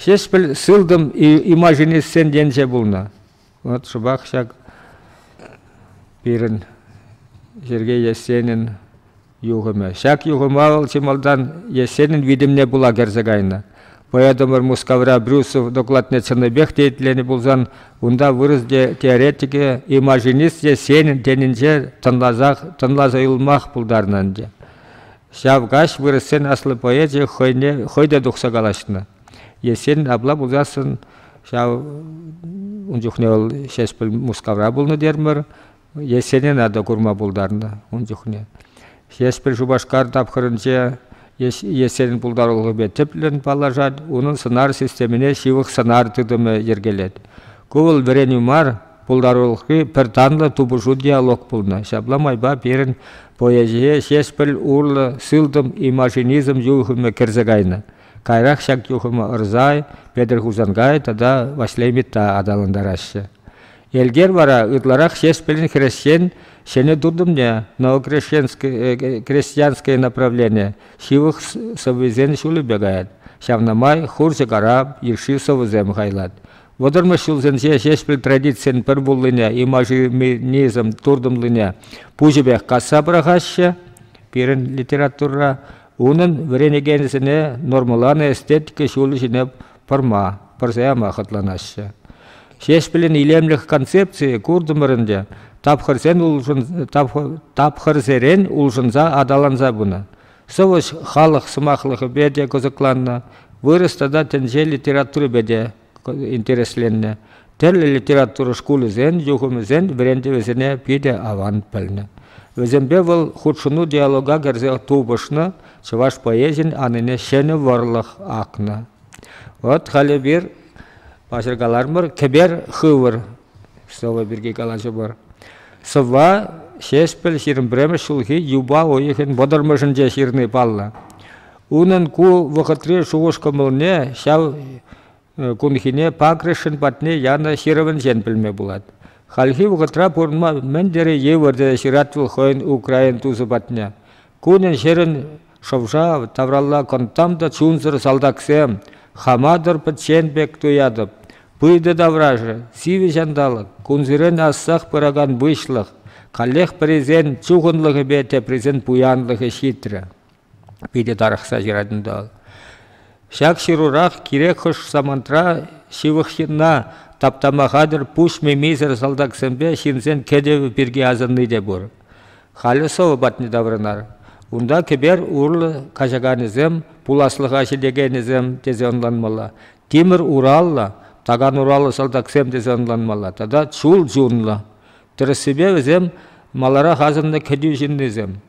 Ҫеҫпӗл сылтӑм имажинистсен енче пулнӑ. Вӑт шӑпах ҫак пирӗн Сергей Есенин юхӑмӗ. Ҫак юхӑма вӑл чи малтан Есенин витӗмне пула кӗрсе кайнӑ. Поэтӑмӑр Мускавра Брюсов докладне чӑннипех те итленӗ пулсан, унта вырӑс теоретикӗ и машинист Есенин тенинче тӑнласах, тӑнласа юлмах пултарнӑ ӗнтӗ. Ҫав каҫ вырӑссен аслӑ поэчӗ хӑйне хӑй те тухса калаҫнӑ. Есен апла пулсассӑн ҫав ун чухне вӑл Ҫеҫпӗл Мускавра пулнӑ терӗмӗр. Есене надо курма пултарнӑ ун чухне. Ҫеҫпӗл Шупашкар тапхӑрӗнче Есенин пултарулӑхӗпе тӗплӗн паллашать, унӑн сӑнар системине ҫывӑх сӑнар тытӑмӗ йӗркелет. Ку вӑл вӗренӳ мар, пултарулӑхри пӗр танлӑ тупӑшу-диалог пулнӑ. Ҫапла майпа пирӗн поэзие Ҫеҫпӗл урлӑ сылтӑм и машинизм юхӑмӗ кӗрсе кайнӑ. Каярах ҫак юхӑма Ырсай, Петӗр Хусанкай тата Ваҫлей Митта аталантараҫҫӗ. Элкер вара ытларах Ҫеҫпӗлӗн хресчен ҫӗнӗ тытӑмне, новокрестьянское направление, ҫывӑх сӑввисен ҫулӗпе каять. Ҫавна май хурҫӑ-карап йышши сӑвӑсем хайлать. Вӑтӑрмӗш ҫулсенче Ҫеҫпӗл традицийӗн пӗр пуллине, имажинизм туртӑмлине пуҫӗпех касса пӑрахаҫҫӗ. Пирӗн литературӑра Унӑн вӗренекенӗсене нормӑланӑ эстетика ҫулӗ ҫине пӑрма, пӑрса яма хӑтланаҫҫӗ. Ҫеҫпӗлӗн илемлӗх концепцийӗ куртӑмӑр ӗнтӗ, тапхӑрсерен улшӑнса аталанса пынӑ. Сӑвӑҫ халӑх сӑмахлӑхӗпе те кӑсӑкланнӑ, вырӑс тата тӗнче литературипе те интересленнӗ. Тӗрлӗ литература шкулӗсен юхӑмӗсен вӗрентӗвӗсене питӗ аван пӗлнӗ. Вӗсемпе вӑл хутшӑну диалога кӗрсе тупӑшнӑ, чӑваш поэзийӗн анине ҫӗнӗ вӑрлӑх акнӑ. Вот халӗ пир паҫӑркалармӑр кӗпер хывӑр слово пирки калаҫӑпӑр. Сӑвва Ҫеҫпӗл ҫирӗмпремӗш ҫулхи юпа уйӑхӗн вӑтӑрмӗшӗнче ҫырни паллӑ. Унӑн ку вӑхӑтри шухӑш-кӑмӑлне ҫав кунхине Пакришӗн патне янӑ ҫырӑвӗнчен пӗлме пулать. Хальхи вӑхӑтра пурӑнма мӗн тери йывӑр тесе ҫырать вӑл хӑйӗн украин тусӗ патне. Кунӗн-ҫӗрӗн шӑвша тавралла кӑнттам та чунсӑр салтаксем хаматӑр пӗччен пек туятӑп. Пыйтӑ таврашӗ, сивӗ ҫанталӑк, кунсерен ассах пыракан выҫлӑх, каллех пӗрисен чухӑнлӑхӗпе теприсен пуянлӑхӗ ҫитрӗ. питӗ тарӑхса ҫырать унта. Ҫак ҫырурах кирек хӑш самантра ҫывӑх ҫынна таптама хатӗр пуҫ мимисӗр салтаксемпе ҫынсен кӗтӗвӗ пирки асӑнни те пур. Халӗ сӑвӑ патне таврӑнар. Унта кӗпер урлӑ качаканӗсем, пуласлӑха ҫитекенӗсем тесе ӑнланмалла, тимӗр ураллӑ, такан ураллӑ салтаксем тесе ӑнланмалла тата чул чунлӑ. Тӗрӗссипе вӗсем маларах асӑннӑ кӗтӳ ҫыннисем.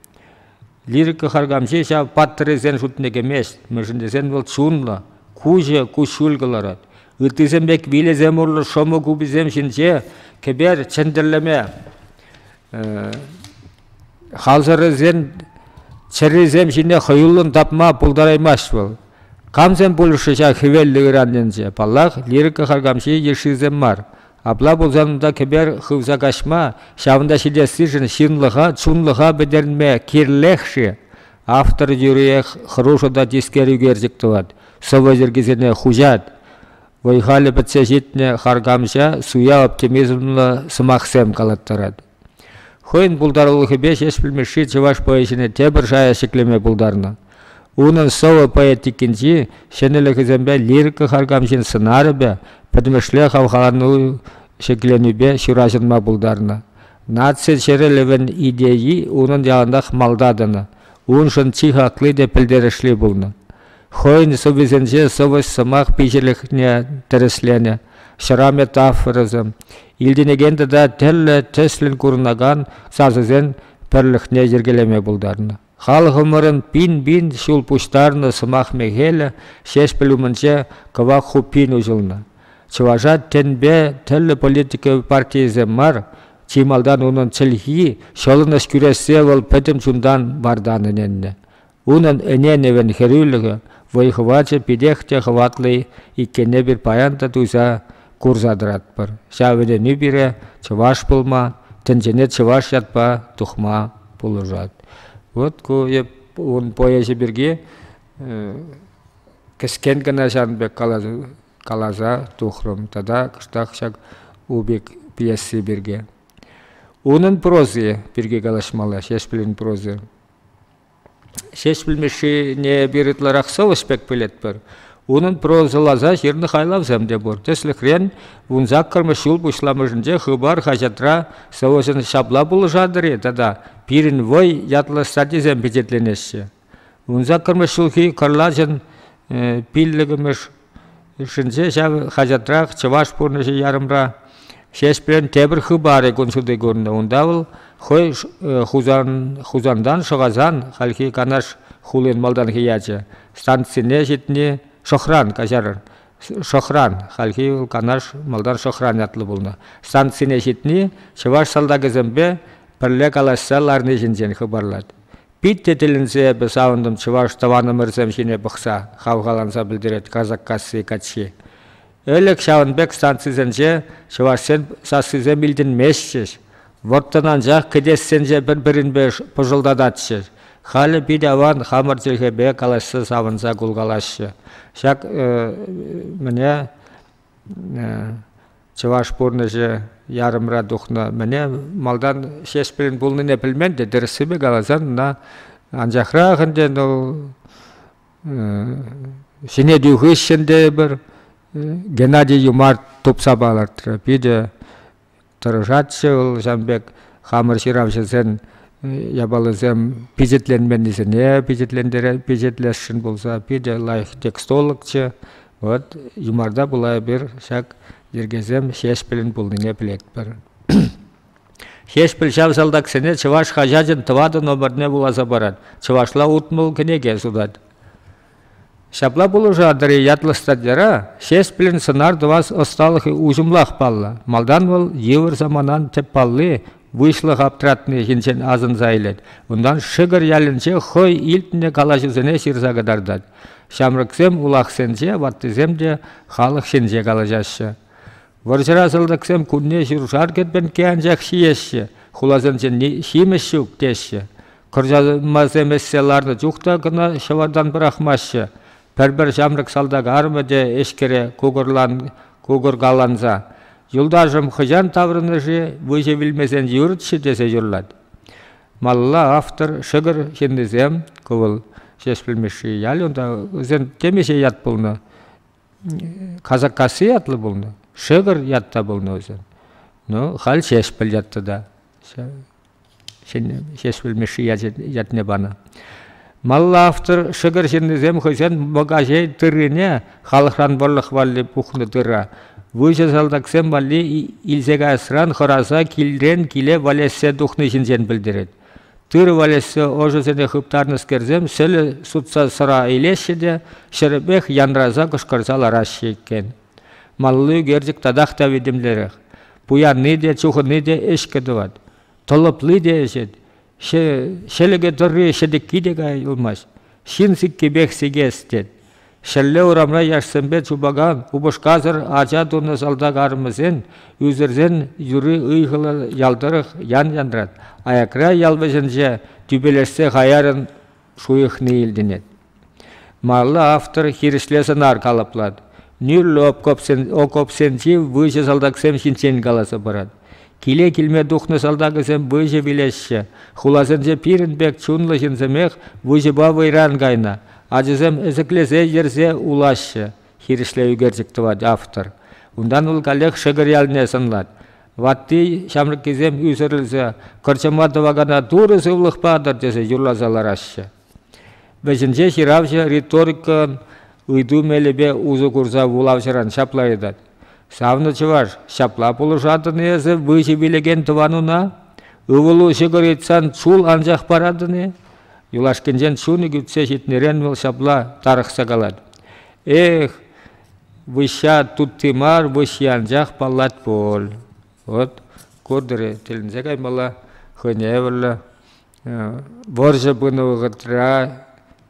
Лирика харкамҫи ҫав паттӑррисен шутне кӗмест, мӗншӗн тесен вӑл чунлӑ, куҫӗ куҫҫуль кӑларать. Ыттисем пек вилесем урлӑ шӑмӑ куписем ҫинче кӗпер чӗнтӗрлеме халсӑррисен чӗррисем ҫине хӑюллӑн тапма пултараймасть вӑл. Камсем пулӗҫ-ши ҫав хӗвеллӗ ыран енче? Паллах, лирика харкамҫи йышшисем мар. Апла пулсан унта кӗпер хывса каҫма, ҫавӑнта ҫитессишӗн ҫынлӑха, чунлӑха пӗтерме кирлех-ши? Автор тӳрех хӑрушӑ та тискер ӳкерчӗк тӑвать, сӑвӑ йӗркисене хуҫать. Вӑй-халӗ пӗтсе ҫитнӗ харкамҫа суя оптимизмлӑ сӑмахсем калаттарать. Хӑйӗн пултарулӑхӗпе Ҫеҫпӗл Мишши чӑваш поэзине тепӗр шая ҫӗклеме пултарнӑ. Унӑн сӑвӑ поэтикинчи ҫӗнӗлӗхӗсемпе лирика харкамҫин сӑнарӗпе, пӗтӗмӗшле хавхалану ҫӗкленӳпе ҫураҫӑнма пултарнӑ. Наци чӗрӗлӗвӗн идейи унӑн яланах малта тӑнӑ, уншӑн чи хакли те пӗлтерӗшли пулнӑ. Хӑйӗн сӑввисенче сӑвӑҫ-сӑмах пиҫӗлӗхне тӗрӗсленӗ, ҫӑра метафорӑсем, илтӗнекен тата тӗрлӗ тӗслӗн курӑнакан сасӑсен пӗрлӗхне йӗркелеме пултарнӑ. Халӑхӑмӑрӑн пин-пин ҫул пуҫтарнӑ сӑмах мехелӗ Ҫеҫпӗл умӗнче кӑвак хуппин уҫӑлнӑ. Чӑваша тӗнпе тӗрлӗ политика партийӗсем мар, чи малтан унӑн чӗлхи, ҫӑлӑнӑҫ кӳрессе вӑл пӗтӗм чунтан вартан ӗненнӗ. Унӑн ӗненӗвӗн хӗрӳлӗхӗ, вӑй-хӑвачӗ питех те хӑватлӑ иккенне пир паян та туйса курса тӑратпӑр. Ҫав вӗренӳ пире чӑваш пулма, тӗнчене чӑваш ятпа тухма пулӑшать. Вот ку ун поэчӗ пирки кӗскен кӑна ҫавӑн пек каласа, каласа тухрӑм тата кӑштах ҫак Убик пьеси пирки. Унӑн прози пирки калаҫмалла Ҫеҫпӗлӗн прози. Ҫеҫпӗл Мишшине эпир ытларах сӑвӑс пек пӗлетпӗр. Унӑн прозӑласа ҫырнӑ хайлавсем те пур. Тӗслӗхрен, вун саккӑрмӗш ҫул пуҫламӑшӗнче Хыпар хаҫатра сӑвӑсен ҫапла пулӑшатӑр-и тата «Пирӗн вӑй» ятлӑ статйисем пичетленеҫҫӗ. Вун саккӑрмӗш ҫулхи кӑрлачӑн пиллӗкмӗш Хушшинче ҫав хаҫатрах чӑваш пурнӑҫӗ ярӑмра Ҫеҫпрел тепӗр хыпарӗ кун ҫути курнӑ. Унта вӑл хӑй Хусан, Хусантан шӑхасан хальхи Канаш хулин малтанхи ячӗ. Станцине ҫитни Шӑхран каҫар. Шӑхран, хальхи вӑл Канаш, малтан Шӑхран ятлӑ пулнӑ. Станцине ҫитни чӑваш салтакӗсемпе пӗрле калаҫса ларни ҫинчен хыпарлать. Питте тӗлӗнсе эпӗ савӑнтӑм чӑваш тӑванӑмӑрсем ҫине пӑхса, хавхаланса пӗлтерет Казаккасси каччи. Ӗлӗк ҫавӑн пек станцисенче чӑвашсен сассисем илтӗнместчӗҫ. Вӑрттӑн анчах кӗтессенче пӗр-пӗринпе пӑшӑлтататчӗҫ. Халӗ пит аван хамӑр чӗлхепе калаҫса савӑнса кулкалаҫҫӗ. Ҫак э, мӗне Чӑваш пурнӑҫӗ ярӑмра тухнӑ. Мӗне малтан Ҫеҫпӗлӗн пулнине пӗлмен те, тӗрӗссипе каласан, ӑна анчахрах ӗнтӗ вӑл ҫӗнетӳ хыҫҫӑн тейӗпӗр Геннадий Юмарт тупса палӑртрӗ. Питӗ тӑрӑшатчӗ вӑл ҫавӑн пек хамӑр ҫыравҫӑсен япалисем пичетленменнисене пичетлесшӗн пулса питӗ лайӑх текстологчӗ вот юмарта пула эпир ҫак йӗркесем ҫеҫпӗлӗн пулнине пӗлетпӗр ҫеҫпӗл ҫав салтаксене чӑваш хаҫачӗн тӑватӑ номерне вуласа парать чӑвашла утмӑл кӗнеке сутать Ҫапла пулӑшатӑр-и ятлӑ статьяра Ҫеҫпӗлӗн сӑнар тӑвас ӑсталӑхӗ уҫӑмлах паллӑ. Малтан вӑл йывӑр саманан тӗп палли выҫлӑх аптратнӑхӗнчен асӑнса илет, унтан Шӗкӗр ялӗнче хӑй илтнӗ калаҫусене ҫырса кӑтартать. Ҫамрӑксем улахсенче, ваттисем те халӑх ҫинче калаҫаҫҫӗ. Вӑрҫӑра салтаксем кунне ҫуршар кӗтменкке анчах ҫиеҫҫӗ, хуласенчен ҫимӗҫ ҫук теҫҫӗ. Кӑрчанмасем ӗҫсе ларнӑ чух та кӑна ҫӑвартан пӑрахмаҫҫӗ. Пӗр-пӗр ҫамрӑк салтак арӑмӗ те эшкере кукӑркаланса «Юлташӑм хӑҫан таврӑнӗ-ши? Выҫӑ вилмесен юрӗччӗ» тесе юрлать. Малла автор, шӗкӗр ҫыннисем, ку вӑл Ҫеҫпӗл Мишши ялӗ, унта вӗсен темиҫе ят пулнӑ. Казаккасси ятлӑ пулнӑ, Шӗкӗр ятта пулнӑ вӗсен. Ну, халь Ҫеҫпӗл ятты та Ҫеҫпӗл Мишши ятне панӑ. Малла автор шӗкӗр ҫыннисем хӑйсен Мӑкаҫей тыррине, халӑхран вӑрлӑх валли пухнӑ тыра, выҫӑ салтаксем валли илсе каясран хӑраса килрен киле валеҫсе тухни ҫинчен пӗлтерет. Тырӑ валеҫсе ӑшӑсене хыптарнӑскерсем сӗлӗ сутса сӑра илеҫҫӗ те ҫӗрӗпех янраса кӑшкӑрса лараҫҫӗ иккен. Малли ӳкерчӗк татах та витӗмлерех. Пуянни те, чухӑнни те ӗҫкӗ тӑвать. Тӑлӑпли те ӗҫет. Ҫӗлӗкӗ тӑрри ҫӗтӗкки те кая юлмасть. Ҫын сиккипех сикес тет. Ҫӗрле урамра яшсемпе чупакан упӑшкасӑр ача тунӑ салтак арӑмӗсен, ӳсӗрсен юри ыйхӑллӑ ял тӑрӑх ян янрать, аякра ял вӗҫӗнче тӳпелешсе хаяррӑн шуйӑхни илтӗнет. Малалла автор хирӗҫле сӑнар калӑплать, нӳрлӗ окопсенчи выҫӑ салтаксем ҫинчен каласа парать. Киле килме тухнӑ салтакӗсем выҫӑ вилеҫҫӗ. Хуласенче пирӗн пек чунлӑ ҫынсемех выҫӑпа вӑйран кайнӑ. Ачасем ӗсӗклесе йӗрсе улаҫҫӗ, хирӗҫле ӳкерчӗк тӑвать автор. Унтан вӑл каллех Шӗкӗр ялне сӑнлать. Ватти ҫамрӑккисем ӳсӗрӗлсе кӑрчӑма тӑвакана турӑ сывлӑх патӑр тесе юрласа лараҫҫӗ. Вӗҫӗнче ҫыравҫӑ риторика ыйту мелӗпе усӑ курса вулавҫӑран ҫапла ыйтать. Савнӑ чӑваш, ҫапла пулӑшатӑн-и эсӗ выҫӑ вилекен тӑвануна? Ывӑлу ҫӑкӑр ыйтсан чул анчах паратӑн-и? Юлашкинчен чунӗ кӳтсе ҫитнӗрен вӑл ҫапла тарӑхса калать. Эх, выҫҫа тутти мар, выҫҫи анчах паллать пуль. Вот куртӑр тӗлӗнсе каймалла, хӑйне евӗрлӗ Вӑрҫӑ пынӑ вӑхӑтра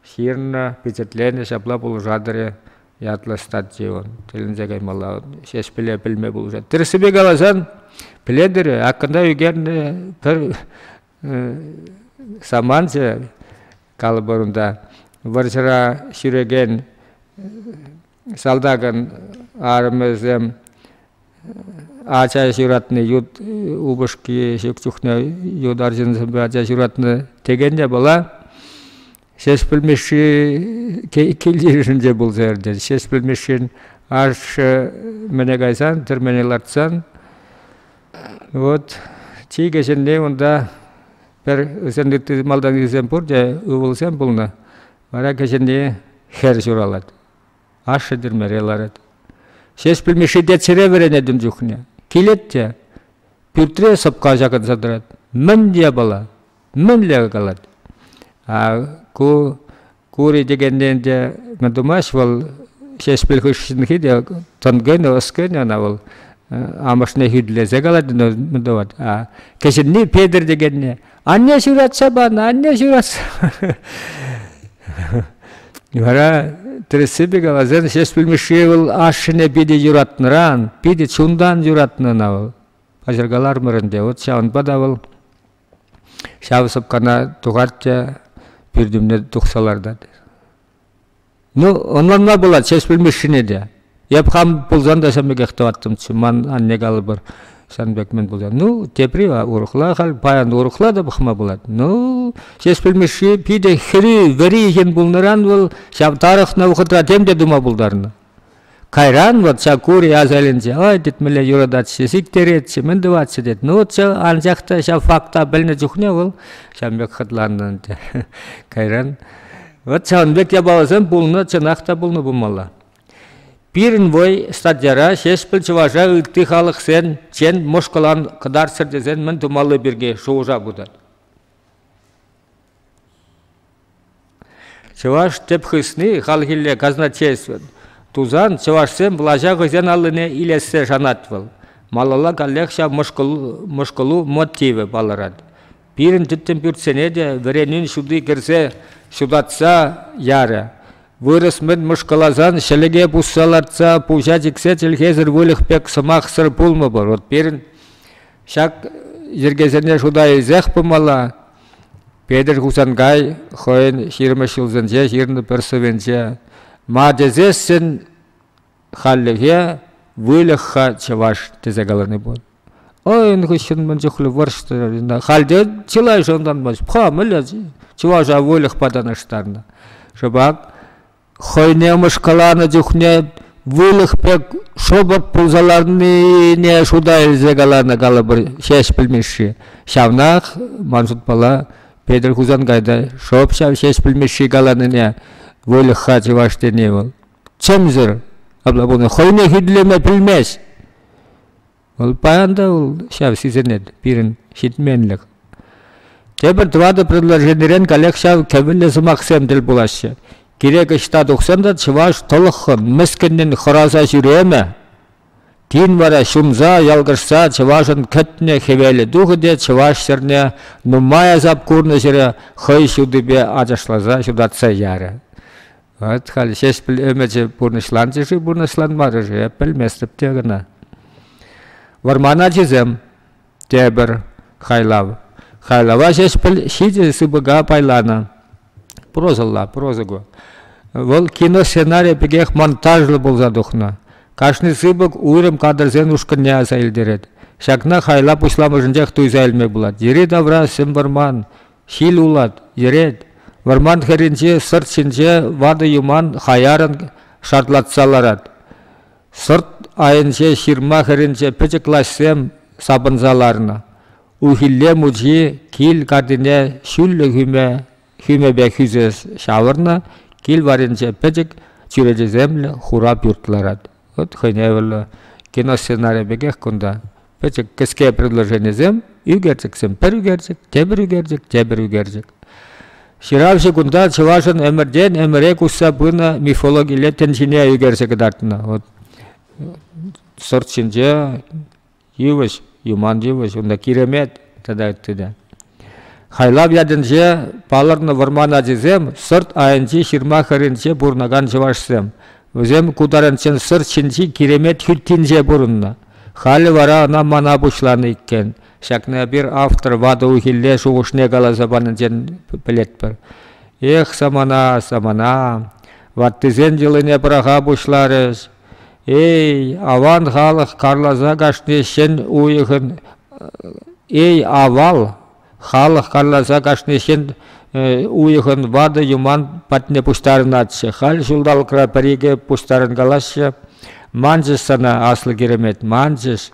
ҫырнӑ, пичетленӗ ҫапла пулӑшатӑр-и ятлӑ статьи он. Тӗлӗнсе каймалла. Ҫеҫпӗле пӗлме пулӑшать. Тӗрӗссипе каласан, пӗлетӗр-и, аккӑнта ӳкернӗ пӗр саманчӗ, калӑпӑр унта, вӑрҫӑра ҫӳрекен Салтакӑн арӑмӗсем ача ҫуратнӑ ют упӑшки ҫук чухне ют арҫынсемпе ача ҫуратнӑ текен те была. Ҫеҫпӗл Мишши кил-йышӗнче те пулса иртет. Ҫеҫпӗл Мишшин ашшӗ мӗне кайсан, тӗрмене лартсан, вот чи кӗҫӗнни унта пӗр ытти малтанхисем пурте ывӑлсем пулнӑ. Вара кӗҫӗнни хӗр ҫуралать. Ашшӗ тӗрмере ларать. Ҫеҫпӗл Мишши теччӗре вӗренетӗм чухне. Килет те пӳртре сӑпка ҫакӑнса тӑрать. Мӗн япала? Мӗнле калать? А ку кури текенне те мӗн тумасть вӑл Ҫеҫпӗл хыҫҫӑнхи те тӑн кӗнӗ, ӑс кӗнӗ ӑна вӑл. Амӑшне хӳтлесе калать, мӗн тӑвать. А кӗҫӗнни Петӗр текенне Анне ҫуратса панӑ, анне ҫуратса Вара тӗрӗссипе каласан Ҫеҫпӗл Мишши вӑл ашшӗне питӗ юратнӑран, питӗ чунтан юратнӑ ӑна вӑл. Паҫӑркалармӑр ӗнтӗ, вот ҫавӑнпа та вӑл ҫав сӑпкана тухать те пӳртӳмне тухса лартать. Ну, ӑнланма пулать Ҫеҫпӗл Мишшине те. Эп хам пулсан та ҫан пекех тӑваттӑмччӗ. Ман анне калӑпӑр сан пек мӗн пулсан. Ну, тепри урӑхла халь, паян урӑхла та пӑхма пулать. Ну, Ҫеҫпӗл Мишши питӗ хӗри, вӗри ҫын пулнӑран вӑл ҫав тарӑхнӑ вӑхӑтра тем те тума пултарнӑ. Кайран вот Сакури асаилӗнче ой тет мӗнле юрататчӗ, сиктеретчӗ, мӗн тӑватчӗ тет. Ну вот ҫав анчах та ҫав факта пӗлнӗ чухне вӑл ҫав пек хӑтланнӑ ӗнтӗ. Кайран вот ҫавӑн пек япаласем пулнӑ, чӑнах та пулнӑ пулмалла. Пирӗн вой статьяра Ҫеҫпӗл чӑваша ытти халӑхсен чен мӑшкӑлан кӑтартсӑр тесен мӗн тумалли пирки шухӑша путать. Чӑваш тӗп хысни хальхилле казначействӑн тусан чӑвашсем влаҫа хӑйсен аллине илессе шанать вӑл. Малалла каллех ҫав мӑшкӑлу мотивӗ палӑрать. Пирӗн тӗттӗм пӳртсене те вӗренӳн ҫути кӗрсе ҫутатса ярӗ. Вырӑс мӗн мӑшкӑласан ҫӗлӗке пусса лартса пуҫа чиксе чӗлхесӗр выльӑх пек сӑмахсӑр пулмӑпӑр. Вӑт пирӗн Ҫак йӗркесене шута илсех пымалла. Петӗр Хусанкай хӑйӗн ҫирӗммӗш ҫулсенче ҫырнӑ пӗр сӑвӗнче «Ма тесессӗн халлӗхе выльӑх-ха чӑваш» тесе калани пур. Ӑйӑн хыҫҫӑн мӗн чухлӗ вӑрҫтӑ. Халде чылай шӑнтанмасть. Ха, мӗнле чӑваша выльӑхпа танлаштарнӑ. Шӑпах хӑйне мӑшкӑланӑ чухне выльӑх пек шӑпӑрт пулса ларнине шута илсе каланӑ калӑпӑр Ҫеҫпӗл Мишши. Ҫавнах, ман шутпала, Петӗр Хусанкайта шӑп ҫав Ҫеҫпӗл Мишши каланине выльӑх-ха чӑваш тени вӑл. Чӗмсӗр, апла пулин хӑйне хӳтӗлеме пӗлмест. Вӑл паян та вӑл ҫав сисӗнет пирӗн ҫитменлӗх. Тепӗр тӑватӑ предложенирен каллех ҫав кӗвӗллӗ сӑмахсем тӗл пулаҫҫӗ. Кирек ӑҫта тухсан та чӑваш тӑлӑххӑн, мӗскӗннӗн хӑраса ҫӳремӗ. Тин вара ҫумса, ялкӑшса чӑвашӑн кӗтнӗ хӗвелӗ тухӗ те чӑваш ҫӗрне нумай асап курнӑ ҫӗре хӑй ҫутипе ачашласа ҫутатса ярӗ. Вот халь ҫеҫпӗл ӗмӗчӗ пурнӑҫланчӗ-ши, пурнӑҫланмарӗ-ши, эп пӗлместӗп те кӑна. Вӑрман ачисем, тепӗр хайлав. Хайлава ҫеҫпӗл ҫичӗ сыпӑка пайланӑ. Прозӑлла, проза ку. Вӑл киносценарий пекех монтажлӑ пулса тухнӑ. Кашни сыпӑк уйрӑм кадрсен ушкӑнне аса илтерет. Ҫакна хайла пуҫламӑшӗнчех туйса илме пулать. Йӗри-тавра сӗм вӑрман, Ҫил улать, йӗрет. Вӑрман хӗрринчи сӑрт ҫинче ватӑ юман хаяррӑн шартлатса ларать. Сӑрт айӗнче ҫырма хӗрринче пӗчӗк лаҫсем сапӑнса ларнӑ. Ухилле мучи кил картине ҫӳллӗ хӳме хӳмепе хӳсес ҫавӑрнӑ, кил варринче пӗчӗк чӳречесемлӗ хура пӳрт ларать. От хӑйневӗллӗ киносценарий пекех кунта. Пӗчӗк кӗске предложенисем ӳкерчӗксем пӗр ӳкерчӗк, тепӗр ӳкерчӗк, тепӗр ӳкерчӗк. Ҫыравҫӑ кунта чӑвашӑн ӗмӗртен ӗмӗре куҫса пынӑ мифологилле тӗн ҫине ӳкерсе кӑтартнӑ. Вот сорт ҫинче йывӑҫ, юман йывӑҫ, унта киремет тата ытти те. Хайлав ятӗнче палӑрнӑ вӑрман ачисем сорт айӗнчи ҫырма хӗрринче пурӑнакан чӑвашсем. Вӗсем ку таранччен Сӑр ҫинчи Киремет хӳттинче пурӑннӑ. Халӗ вара ӑна мана пуҫланӑ иккен. Ҫакна эпир автор ватӑ уйхилле шухӑшне каласа панинчен пӗлетпӗр. Эх, самана, самана, ваттисен йӑлине пӑраха пуҫларӗҫ. Эй, аван халӑх карласа кашни ҫӗн уйӑхӑн. Эй, авал! Халӑх каласа кашни ҫын уйӑхӑн ватӑ юман патне пуҫтарӑнатчӗ. Халь ҫулталӑкра пӗр-икӗ пуҫтарӑнкалаҫҫӗ. Манчӗҫ сана, аслӑ киремет, манчӗҫ.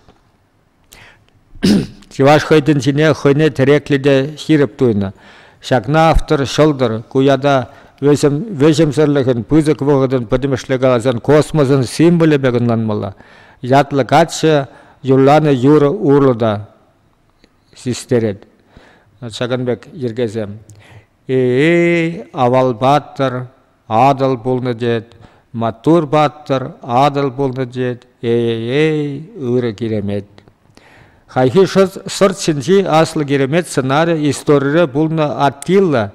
Чӑваш хӑй тӗнчине хӑйне тӗреклӗ те ҫирӗп туйнӑ. Ҫакна автор ҫӑлтӑр, ку ята вӗҫӗмсӗрлӗхӗн, пысӑк вӑхӑтӑн пӗтӗмӗшле каласан космосӑн символӗ пек ӑнланмалла. Ятлӑ каччӑ юрланӑ юрӑ урлӑ та. систерет. Ҫакӑн пек йӗркесем. Эй, авал паттӑр, Атӑл пулнӑ тет, маттур паттӑр, Атӑл пулнӑ тет, эй-эй-эй, ырӑ киремет. Хайхи шӑт сӑрт ҫинчи аслӑ киремет сӑнарӗ историре пулнӑ Аттила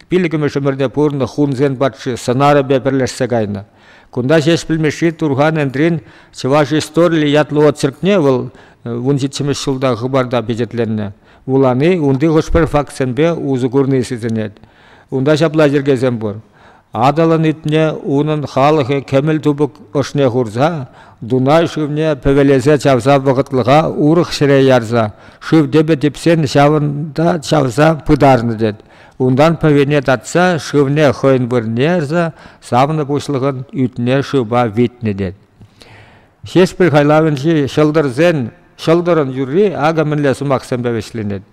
пилӗкмӗш ӗмӗрте пурӑннӑ хунсен патши сӑнарӗпе пӗрлешсе кайнӑ. Кунта ҫеҫ пӗлмешри Турхан Энтрин чӑваш историллӗ ятлӑ очеркне вӑл вун ҫиччӗмӗш ҫулта хыпарта пичетленнӗ. Вулани унти хӑш-пӗр фактсемпе усӑ курни сисӗнет. Унта ҫапла йӗркесем пур. Атӑлӑн ӳтне унӑн халӑхӗ кӗмӗл тупӑк ӑшне хурса, Дунай шывне пӗвелесе чавса вӑхӑтлӑха урӑх ҫӗре ярса, шыв тӗпӗ типсен ҫавӑнта чавса пытарнӑ тет. Унтан пӗвене татса шывне хӑйӗн вырӑнне ярса савнӑ пуҫлӑхӑн ӳтне шывпа витнӗ тет. Ҫеҫпӗл хайлавӗнчи ҫӑлтӑрсен ҫӑлтӑрӑн юрри акӑ мӗнле сӑмахсемпе вӗҫленет.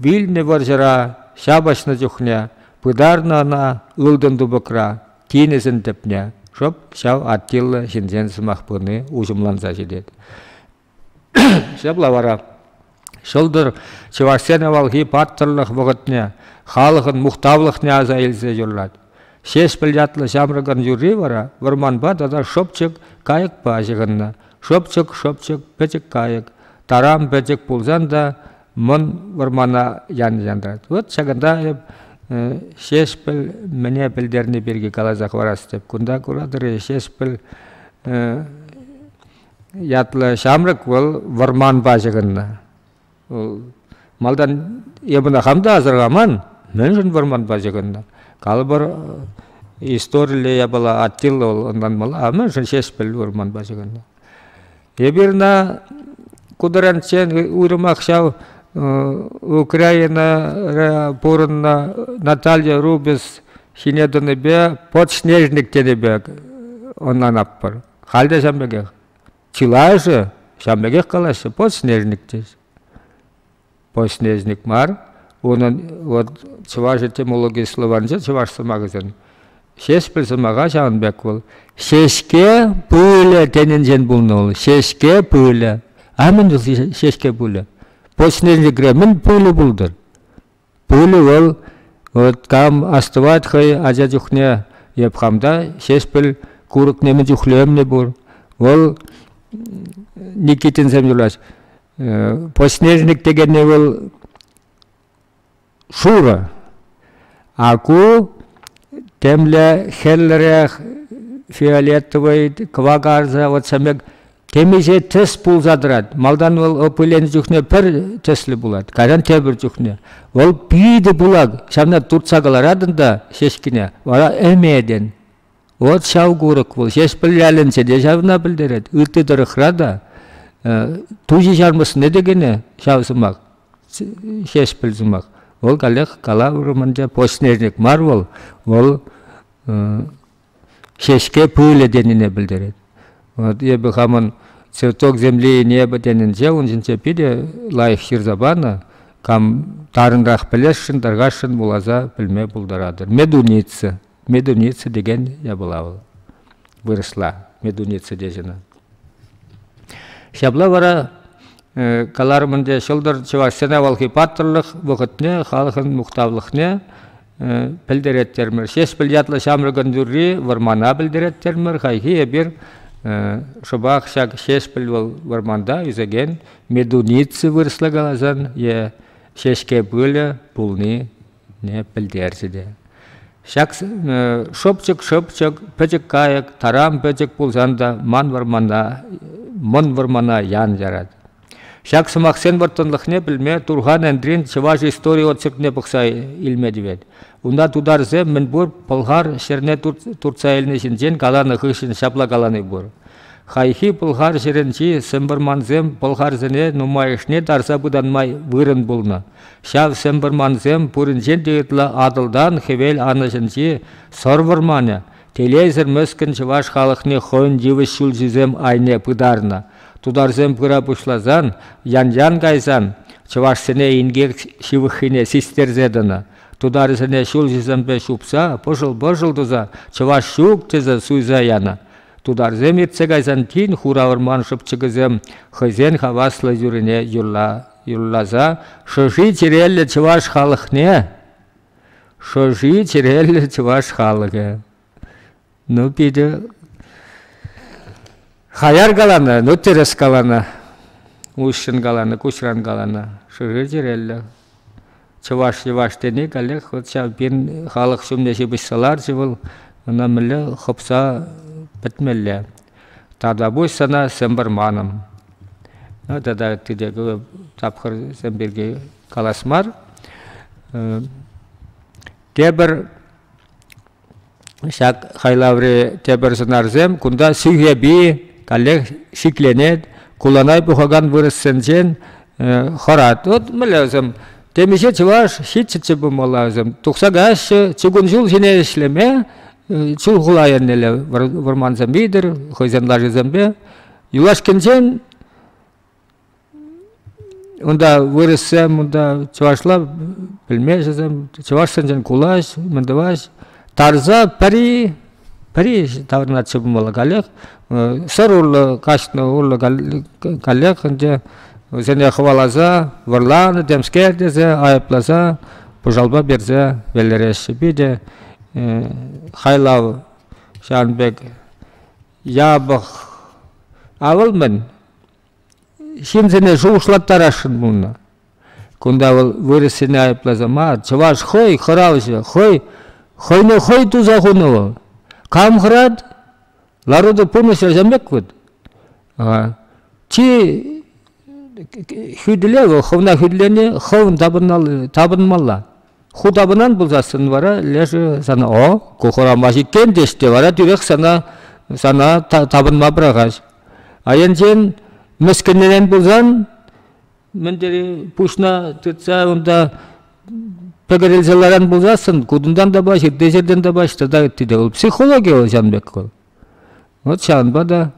Вилнӗ вӑрҫӑра ҫапӑҫнӑ чухне пытарнӑ ӑна ылтӑн тупӑкра тинӗсӗн тӗпне. Шӑп ҫав Аттилла ҫынсен сӑмах пыни уҫӑмланса ҫитет. Ҫапла вара ҫӑлтӑр чӑвашсен авалхи паттӑрлӑх вӑхӑтне, халӑхӑн мухтавлӑхне аса илсе юрлать. Ҫеҫпӗл ятлӑ ҫамрӑкӑн юрри вара вӑрманпа тата шӑпчӑк кайӑкпа ҫыхӑннӑ. Шӑпчӑк, шӑпчӑк, пӗчӗк кайӑк. Тарам пӗчӗк пулсан та мӑн вӑрмана янӑрать. Вот ҫакӑнта эп Ҫеҫпӗл мӗне пӗлтерни пирки каласа хӑварас тӗп. Кунта куратӑр-и, Ҫеҫпӗл ятлӑ ҫамрӑк вӑл вӑрманпа ҫыхӑннӑ. Малтан эпӗ хам та асӑрхаман, мӗншӗн вӑрманпа ҫыхӑннӑ. Калӑпӑр, историлле япала Аттила вӑл ӑнланмалла, а мӗншӗн Ҫеҫпӗл вӑрманпа ҫыхӑннӑ. Эпир ӑна кутӑранччен уйрӑмах ҫав Украинӑра пурӑннӑ Наталья Рубис ҫине тӑнипе подснежник тенипе ӑнланатпӑр. Халь те ҫавӑн пекех. Чылайӑшӗ ҫавӑн пекех калаҫҫӗ, подснежник теҫ. Подснежник мар, унӑн вот чӑваш этимологи словарӗнче чӑваш сӑмахӗсен ҫеҫпӗл сӑмаха ҫавӑн пек вӑл. Ҫеҫке пылӗ тенинчен пулнӑ вӑл. Ҫеҫке пылӗ. А мӗн вӑл ҫеҫке пылӗ? Подснежникре мӗн пылӗ пултӑр? Пулӗ вӑл там астӑвать хӑй ача чухне эп хамта Ҫеҫпӗл курӑкне мӗн чухлӗ ӗмлӗ пур. Вӑл Никитинсем юрлать. Поснежник текенни вӑл шурӑ, а ку темле хӗрлӗрех фиолетовый кӑвакарса вот сӗмек Темиҫе тӗс пулса тӑрать. Малтан вӑл пыленӗ чухне пӗр тӗслӗ пулать, кайран тепӗр чухне. Вӑл питӗ пылак, ҫавна туртса кӑларатӑн та ҫеҫкине, вара ӗметӗн. Вот ҫав курӑк вӑл, ҫеҫпӗл ялӗнче те ҫавна пӗлтерет. Ытти тӑрӑхра та тучи ҫармӑсне те кӗнӗ ҫав сӑмах, ҫеҫпӗл сӑмах. Вӑл каллех калаврӑмӑнча почтенник мар вӑл, вӑл ҫеҫке пылӗ тенине пӗлтерет. Вот эпӗ хамӑн цветок земли небо тенинче ун ҫинче питӗ лайӑх ҫырса панӑ. Кам тарӑнрах пӗлесшӗн, таркасшӑн вуласа пӗлме пултаратӑр. Медуница, медуница текен япала вӑл вырӑсла медуница тесенӗ. Ҫапла вара э, каларӑм ӗнтӗ ҫӑлтӑр чӑвашсен авалхи паттӑрлӑх вӑхӑтне, халӑхӑн мухтавлӑхне пӗлтереттермӗр. Ҫеҫпӗл ятлӑ ҫамрӑкӑн юрри вӑрмана пӗлтереттермӗр. Хайхи эпир шӑпах ҫак Ҫеҫпӗл вӑл вӑрманта ӳсекен медуница вырӑсла каласан е ҫеҫке пылӗ пулнине пӗлтерчӗ те. Ҫак шӑпчӑк-шӑпчӑк, пӗчӗк-кайӑк, таран пӗчӗк пулсан та ман вӑрмана, мӑн вӑрмана ян ярать. Ҫак сӑмахсен вӑрттӑнлӑхне пӗлме Турхан Энтрин чӑваш истори очеркне пӑхса илме тивет. Унта тутарсем мӗнпур пӑлхар ҫӗрне туртса илни ҫинчен каланӑ хыҫҫӑн ҫапла калани пур. Хайхи пӑлхар ҫӗрӗнчи сӗмпӗрмансем пӑлхарсене нумайӑшне тарса пытанма вырӑн пулнӑ. Ҫав сӗмпӗрмансем пуринчен те ытла Атӑлтан хӗвел анӑҫӗнчи сӑр вӑрманӗ, Телейсӗр мӗскӗн чӑваш халӑхне хӑйӗн йывӑҫ ҫулҫисем айне пытарнӑ. Тутарсем пыра пуҫласан, ян-ян кайсан, чӑвашсене инкек ҫывӑххине систерсе тӑнӑ. Тутарсене ҫулҫисемпе ҫупса, пӑшӑл-пӑшӑл туса «чӑваш ҫук» тесе суйса янӑ. Тутарсем иртсе кайсан тин хура вӑрман шӑпчӑкӗсем хӑйсен хаваслӑ юррине юрла, юрласа «Шӑши чӗреллӗ чӑваш халӑхне!» Шӑши чӗреллӗ чӑваш халӑхӗ. Ну, питӗ хаяр каланӑ, ну, тӗрӗс каланӑ. Уҫҫӑн каланӑ, куҫран каланӑ. Шӑши чӗреллӗ. Чӑваш йӑваш тени каллех вот ҫав пин халӑх ҫумне ҫыпӑҫса ларчӗ вӑл, ӑна мӗнле хӑпса пӗтмелле. Тата пусть сана сӗмпӗр манӑм. Тата тете тапхӑрсем пирки калас мар. Тепӗр ҫак хайлаври тепӗр сӑнарсем кунта сӳхепи каллех шикленет, куланай пухакан вырӑссенчен хӑрать. Вот мӗнле вӗсем темиҫе чӑваш ҫиччӗччӗ пулмалла вӗсем. Тухса каҫҫӗ, чугун ҫул ҫине ӗҫлеме Чулхула эрнелле вӑрмансем витӗр, хӑйсен лашисемпе. Юлашкинчен унта вырӑссем, унта чӑвашла пӗлмешӗсем, чӑвашсенчен кулаҫ, мӗн тӑваҫ. Тарса пӗри, пӗри таврӑнатчӗ пулмалла каллех. Сӑр урлӑ каҫнӑ урлӑ каллех ӗнтӗ вӗсене хӑваласа вӑрланӑ темскер тесе айӑпласа пӑшалпа персе веллереҫҫӗ. Питӗ хайлав ҫавӑн пек япӑх. А вӑл мӗн? Ҫынсене шухӑшлаттарасшӑн пулнӑ. Кунта вӑл вырӑссене айӑпласа мар, чӑваш хӑй хӑравҫӑ, хӑй хӑйне хӑй туса хунӑ вӑл. Кам хӑрать? Ларута пурнӑҫ ачан пек вӑт. Чи хӳтӗле вӑл хӑвна хӳтӗлени хӑвӑн тапӑнмалла. Ху тапӑнан пулсассӑн вара лешӗ сана «О, ку хурама ҫикен» теҫ те вара тӳрех сана сана тапӑнма пӑрахать. Айӑнчен мӗскӗнрен пулсан мӗн тери пуҫна тытса унта пӗкӗрӗлсе ларан пулсассӑн кутунтан та паҫ, ытти ҫӗртен та паҫ тата ытти те. Вӑл психологи вӑл ҫавӑн пек вӑл. Вӑт ҫавӑнпа та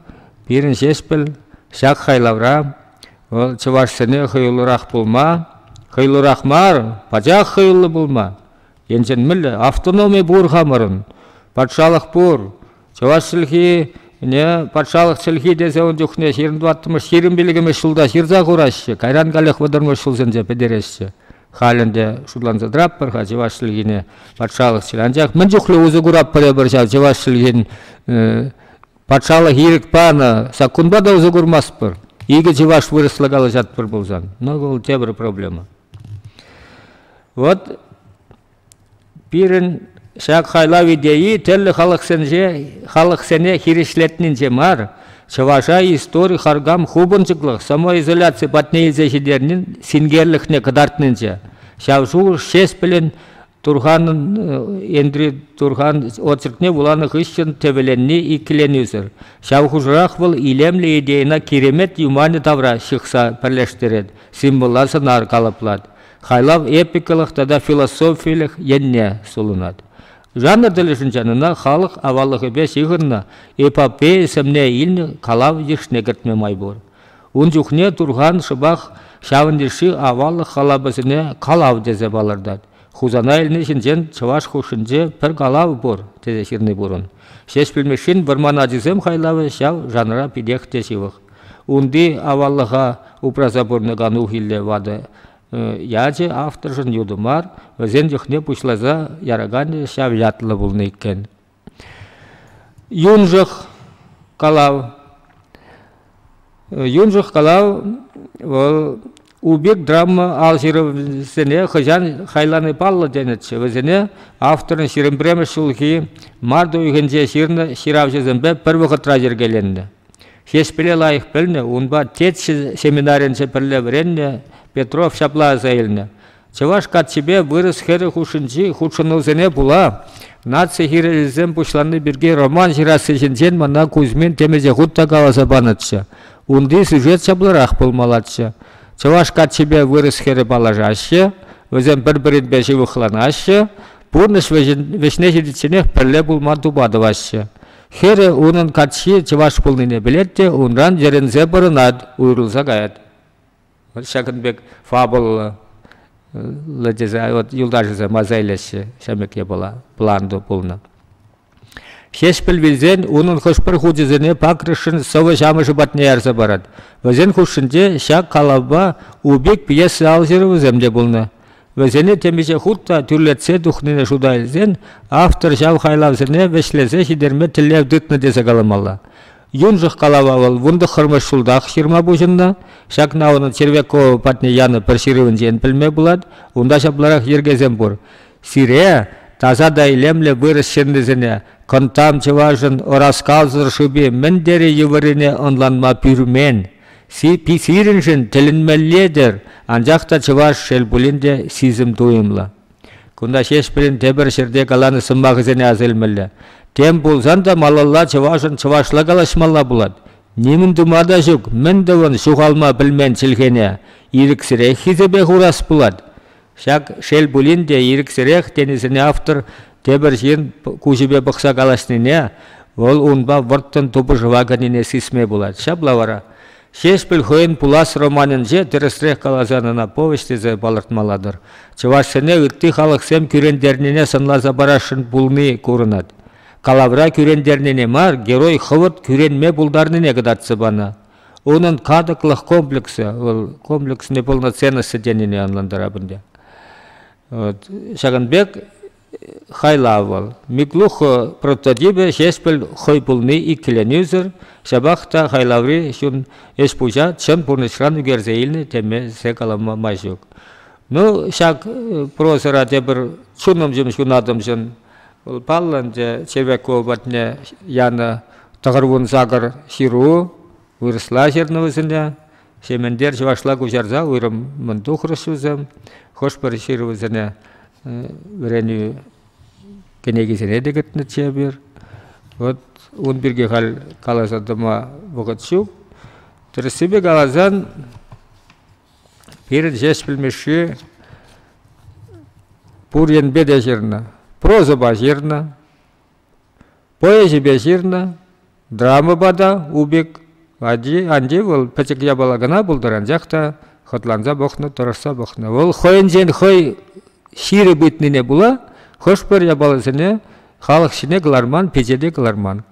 пирӗн Ҫеҫпӗл ҫак хайлавра вӑл чӑвашсене хӑюлӑрах пулма, хӑюлӑрах мар, пачах хӑюллӑ пулма, енчен мӗнле автономи пур хамӑрӑн, патшалӑх пур, чӑваш чӗлхине патшалӑх чӗлхи тесе ун чухне ҫирӗм тӑваттӑмӗш, ҫирӗм пилӗкмӗш ҫулта ҫырса хураҫҫӗ, кайран каллех вӑтӑрмӗш ҫулсенче пӗтереҫҫӗ. Халь ӗнтӗ шутланса тӑратпӑр-ха чӑваш чӗлхине патшалӑх чылай. Анчах мӗн чухлӗ усӑ куратпӑр эпир ҫав чӑваш чӗлхин патшалӑх ирӗк панӑ саккунпа та усӑ курмастпӑр. Икӗ чӑваш вырӑсла калаҫатпӑр пулсан, ну вӑл тепӗр проблема. Вот Пирӗн ҫак хайлав идейи тӗрлӗ халӑхсенче халӑхсене хирӗҫлетнинче мар, чӑваша истори харкам хупӑнчӑклӑх, самоизоляци патне илсе ҫитернин синкерлӗхне кӑтартнинче. Ҫав шухӑш Ҫеспӗлӗн Турханӑн Энтри Турхан очеркне вуланӑ хыҫҫӑн тӗвӗленни иккӗленӳсӗр. Ҫав хушӑрах вӑл илемлӗ идейӑна киремет юманӗ тавра ҫыхса пӗрлештерет, символа сӑнар калӑплать. хайлав эпикалӑх тата философилӗх енне сулӑнать. Жанр тӗлӗшӗнчен ӑна халӑх аваллӑхӗпе ҫыхӑннӑ эпопея сӗмне илнӗ калав йышне кӗртме май пур. Ун чухне Турхан шӑпах ҫавӑн йышши аваллӑх халапӗсене калав тесе палӑртать. Хусана илни ҫинчен чӑваш хушшинче пӗр калав пур, тесе ҫырни пурӑн. Ҫеҫпӗл Мишшин вӑрман ачисем хайлавӗ ҫав жанра питех те ҫывӑх. Унти аваллӑха упраса пурӑнакан ухилле ватӑ ячӗ авторшӑн ютӑ мар, вӗсен чухне пуҫласа яраканӗ ҫав ятлӑ пулнӑ иккен. Юншӑх калав. Юншӑх калав вӑл Убик драма ал ҫырӑвӗсене хӑҫан хайлани паллӑ тенӗччӗ. Вӗсене авторӑн ҫирӗм пӗрремӗш ҫулхи март уйӑхӗнче ҫырнӑ ҫыравҫӑсемпе пӗр вӑхӑтра йӗркеленнӗ. Ҫеҫпӗле лайӑх пӗлнӗ, унпа Тетчӗ семинаринче пӗрле вӗреннӗ Петров ҫапла аса илнӗ. Чӑваш каччипе вырӑс хӗрӗ хушшинчи хутшӑнусене пула наци хирӗҫӗсем пуҫланни пирки роман ҫырасси ҫинчен мана Кузьмин темиҫе хут та каласа панӑччӗ. Унти сюжет ҫапларах пулмаллаччӗ. Чӑваш каччипе вырӑс хӗрӗ паллашаҫҫӗ, вӗсем пӗр-пӗринпе ҫывӑхланаҫҫӗ, пурнӑҫ вӗҫне ҫитичченех пӗрле пулма тупа тӑваҫҫӗ. Хӗрӗ унӑн каччи чӑваш пулнине пӗлет те унран йӗрӗнсе пӑрӑнать, уйрӑлса каять. ҫакӑн пек фабулӑллӑ тесе вот юлташӗсем аса илеҫҫӗ ҫамрӑк япала планто пулнӑ. Ҫеҫпӗл вилсен унӑн хӑш-пӗр хучӗсене пакӑрӑшшӑн сӑвӑ ҫамӑшӗ патне ярса парать. Вӗсен хушшинче ҫак калавпа Убик пьеса ал ҫырӑвӗсем те пулнӑ. Вӗсене темиҫе хут та тӳрлетсе тухнине шута илсен автор ҫав хайлавсене вӗҫлесе ҫитерме тӗллев тытнӑ тесе каламалла. Юншӑх калама вӑл вунтӑххӑрмӗш ҫултах ҫырма пуҫӑннӑ. Ҫакна унӑн Червякова патне янӑ пӗр ҫырӑвӗнчен пӗлме пулать. Унта ҫапларах йӗркесем пур. Сире, таса та илемлӗ вырӑс ҫыннисене, кӑнттам чӑвашӑн ӑраскалсӑр шӑпи мӗн тери йывӑррине ӑнланма пӳрмен. Сирӗншӗн тӗлӗнмелле-тӗр, анчах та чӑваш шел пулин те сисӗм туйӑмлӑ. Кунта Ҫеҫпӗлӗн тепӗр ҫӗрте каланӑ сӑмахӗсене аса илмелле. Тем пулсан та малалла чӑвашӑн чӑвашла калаҫмалла пулать. Нимӗн тума та ҫук, мӗн тӑвӑн ҫухалма пӗлмен чӗлхене ирӗксӗрех хисепе хурас пулать. Ҫак шел пулин те ирӗксӗрех тенисене автор тепӗр ҫын куҫӗпе пӑхса калаҫнине, вӑл унпа вӑрттӑн тупӑшӑва кӗнине сисме пулать. Ҫапла вара Ҫеҫпӗл хӑйӗн пулас романӗнче тӗрӗсрех каласан ӑна повеҫ тесе палӑртмалла-тӑр. Чӑвашсене ытти халӑхсем кӳрентернине сӑнласа парасшӑн пулни курӑнать. Калавра кӳрентернине мар, герой хӑвӑрт кӳренме пултарнине кӑтартса панӑ. Унӑн катӑклӑх комплексӗ, вӑл комплексне полноценности тенине ӑнлантарап ӗнтӗ. Вот. Ҫакӑн пек Хайлавӑл. Миклухо прототипӗ Ҫеҫпӗл хӑй пулни иккӗленӳсӗр, ҫапах та хайлаври чун ӗҫ-пуҫа чӑн пурнӑҫран ӳкерсе илнӗ темесе калама май ҫук. Ну, ҫак прозӑра тепӗр чунӑмҫӑм ҫунатӑмҫӑн вӑл паллӑ ӗнтӗ Червякова патне янӑ тӑхӑрвун сакӑр ҫыру вырӑсла ҫырнӑ вӗсене. Сементер чӑвашла куҫарса уйрӑммӑн тухрӑш вӗсем хӑш-пӗр ҫырӑвӗсене вӗренӳ кӗнекисене те кӗтнӗччӗ эпир. Вот ун пирки халь каласа тӑма вӑхӑт ҫук. Тӗрӗссипе каласан, пирӗн ҫеҫ пӗлмешши пур енпе те ҫырнӑ. Прозӑпа ҫырнӑ, Поэзипе ҫырнӑ, драмӑпа та Убик. Анчи вӑл пӗчӗк япала кӑна пултӑр, анчах та хӑтланса пӑхнӑ, тӑрӑшса пӑхнӑ. Вӑл хӑйӗнчен хӑй ҫирӗп ыйтнине пула хӑш-пӗр япаласене халӑх ҫине кӑларман, пичете те кӑларман.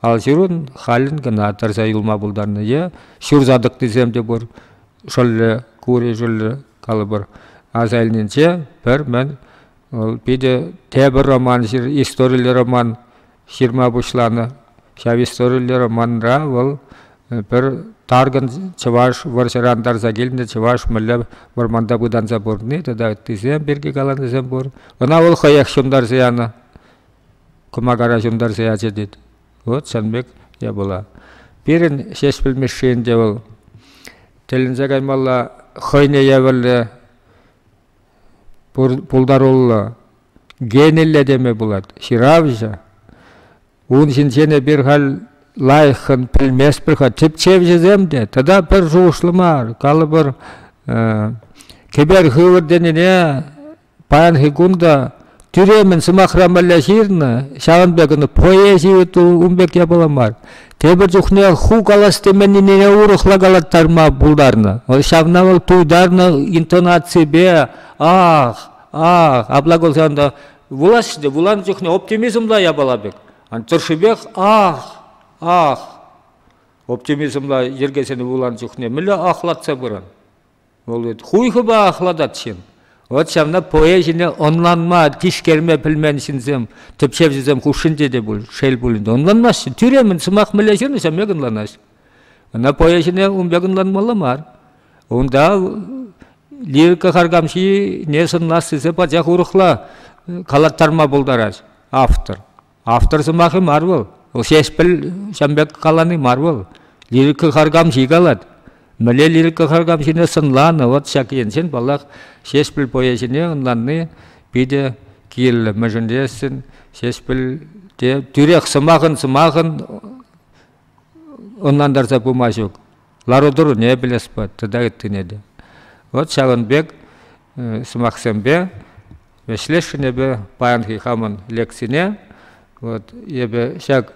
Алҫырун халӗн кӑна тӑрса юлма пултарнӑ е ҫурса тӑкнисем те пур, шӑллӗ, кури шӑллӗ, калӑпӑр, аса илнинче пӗр мӗн Вӑл питӗ тепӗр роман, историллӗ роман ҫырма пуҫланӑ. Ҫав историллӗ романра вӑл пӗр таркӑн чӑваш вӑрҫӑран тарса килнӗ чӑваш мӗнле вӑрманта пытанса пурӑнни тата ыттисем пирки каланисем пур. Ӑна вӑл хӑех ҫунтарса янӑ. Кӑмакара ҫунтарса ячӗ тет. Вот чӑн пек япала. Пирӗн Ҫеҫпӗл Мишши ӗнтӗ вӑл тӗлӗнсе каймалла хӑйне евӗрлӗ пултаруллӑ гениллӗ теме пулать ҫыравҫӑ ун ҫинчен эпир халь лайӑххӑн пӗлместпӗр-ха тӗпчевҫӗсем те тата пӗр шухӑшлӑ мар калӑпӑр кӗпер хывӑр тенине паянхи кун та тӳремӗн сӑмахра мӗнле ҫырнӑ, ҫавӑн пек ӑна поэзи ту ун пек япала мар. Тепӗр чухне ху калас теменнине урӑхла калаттарма пултарнӑ. Ҫавна вӑл туйтарнӑ интонаципе ах, ах, апла кулсан та вулаҫҫӗ те вуланӑ чухне оптимизмла япала пек. тӑршшипех ах, ах, оптимизмла йӗркесене вуланӑ чухне мӗнле ахлатса пыран. Вӑл говорит, хуйхӑпа ахлатать ҫын. Вот ҫавна поэ ҫине ӑнланма, тишкерме пӗлмен ҫынсем, тӗпчевҫӗсем хушшинче те пуль, шел пулин те, ӑнланмаҫҫӗ. Тӳремӗн сӑмах мӗнле ҫырнӑ, ҫав пек ӑнланаҫ. Ӑна поэ ҫине ун пек ӑнланмалла мар. Унта лирика харкамҫине сӑнлас тесе пачах урӑхла калаттарма пултарать автор. Автор сӑмахӗ мар вӑл, вӑл Ҫеҫпӗл ҫан пек калани мар вӑл. Лирика харкамҫи калать. Мӗнле лирика харкамҫине сӑнланӑ вот ҫак енчен, паллах, Ҫеҫпӗл поэзине ӑнланни питӗ кирлӗ. Мӗншӗн тесен Ҫеҫпӗлте тӳрех сӑмахӑн сӑмахӑн ӑнлантарса пыма ҫук. лару-тӑруне пӗлеспӗр тата ыттине те. Вот ҫавӑн пек сӑмахсемпе вӗҫлесшӗнӗпе паянхи хамӑн лекцине вот эпӗ ҫак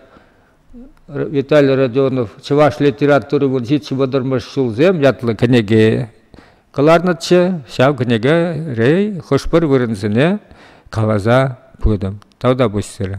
Виталий Родионов Чӑваш литератури вунҫиччӗ вӑтӑрмӗш ҫулсем ятлӑ кӗнеке кӑларнӑччӗ. Ҫав кӗнеке рей хӑш-пӗр вырӑнсене каласа пытӑм. Тавта пуҫсӑрӗ.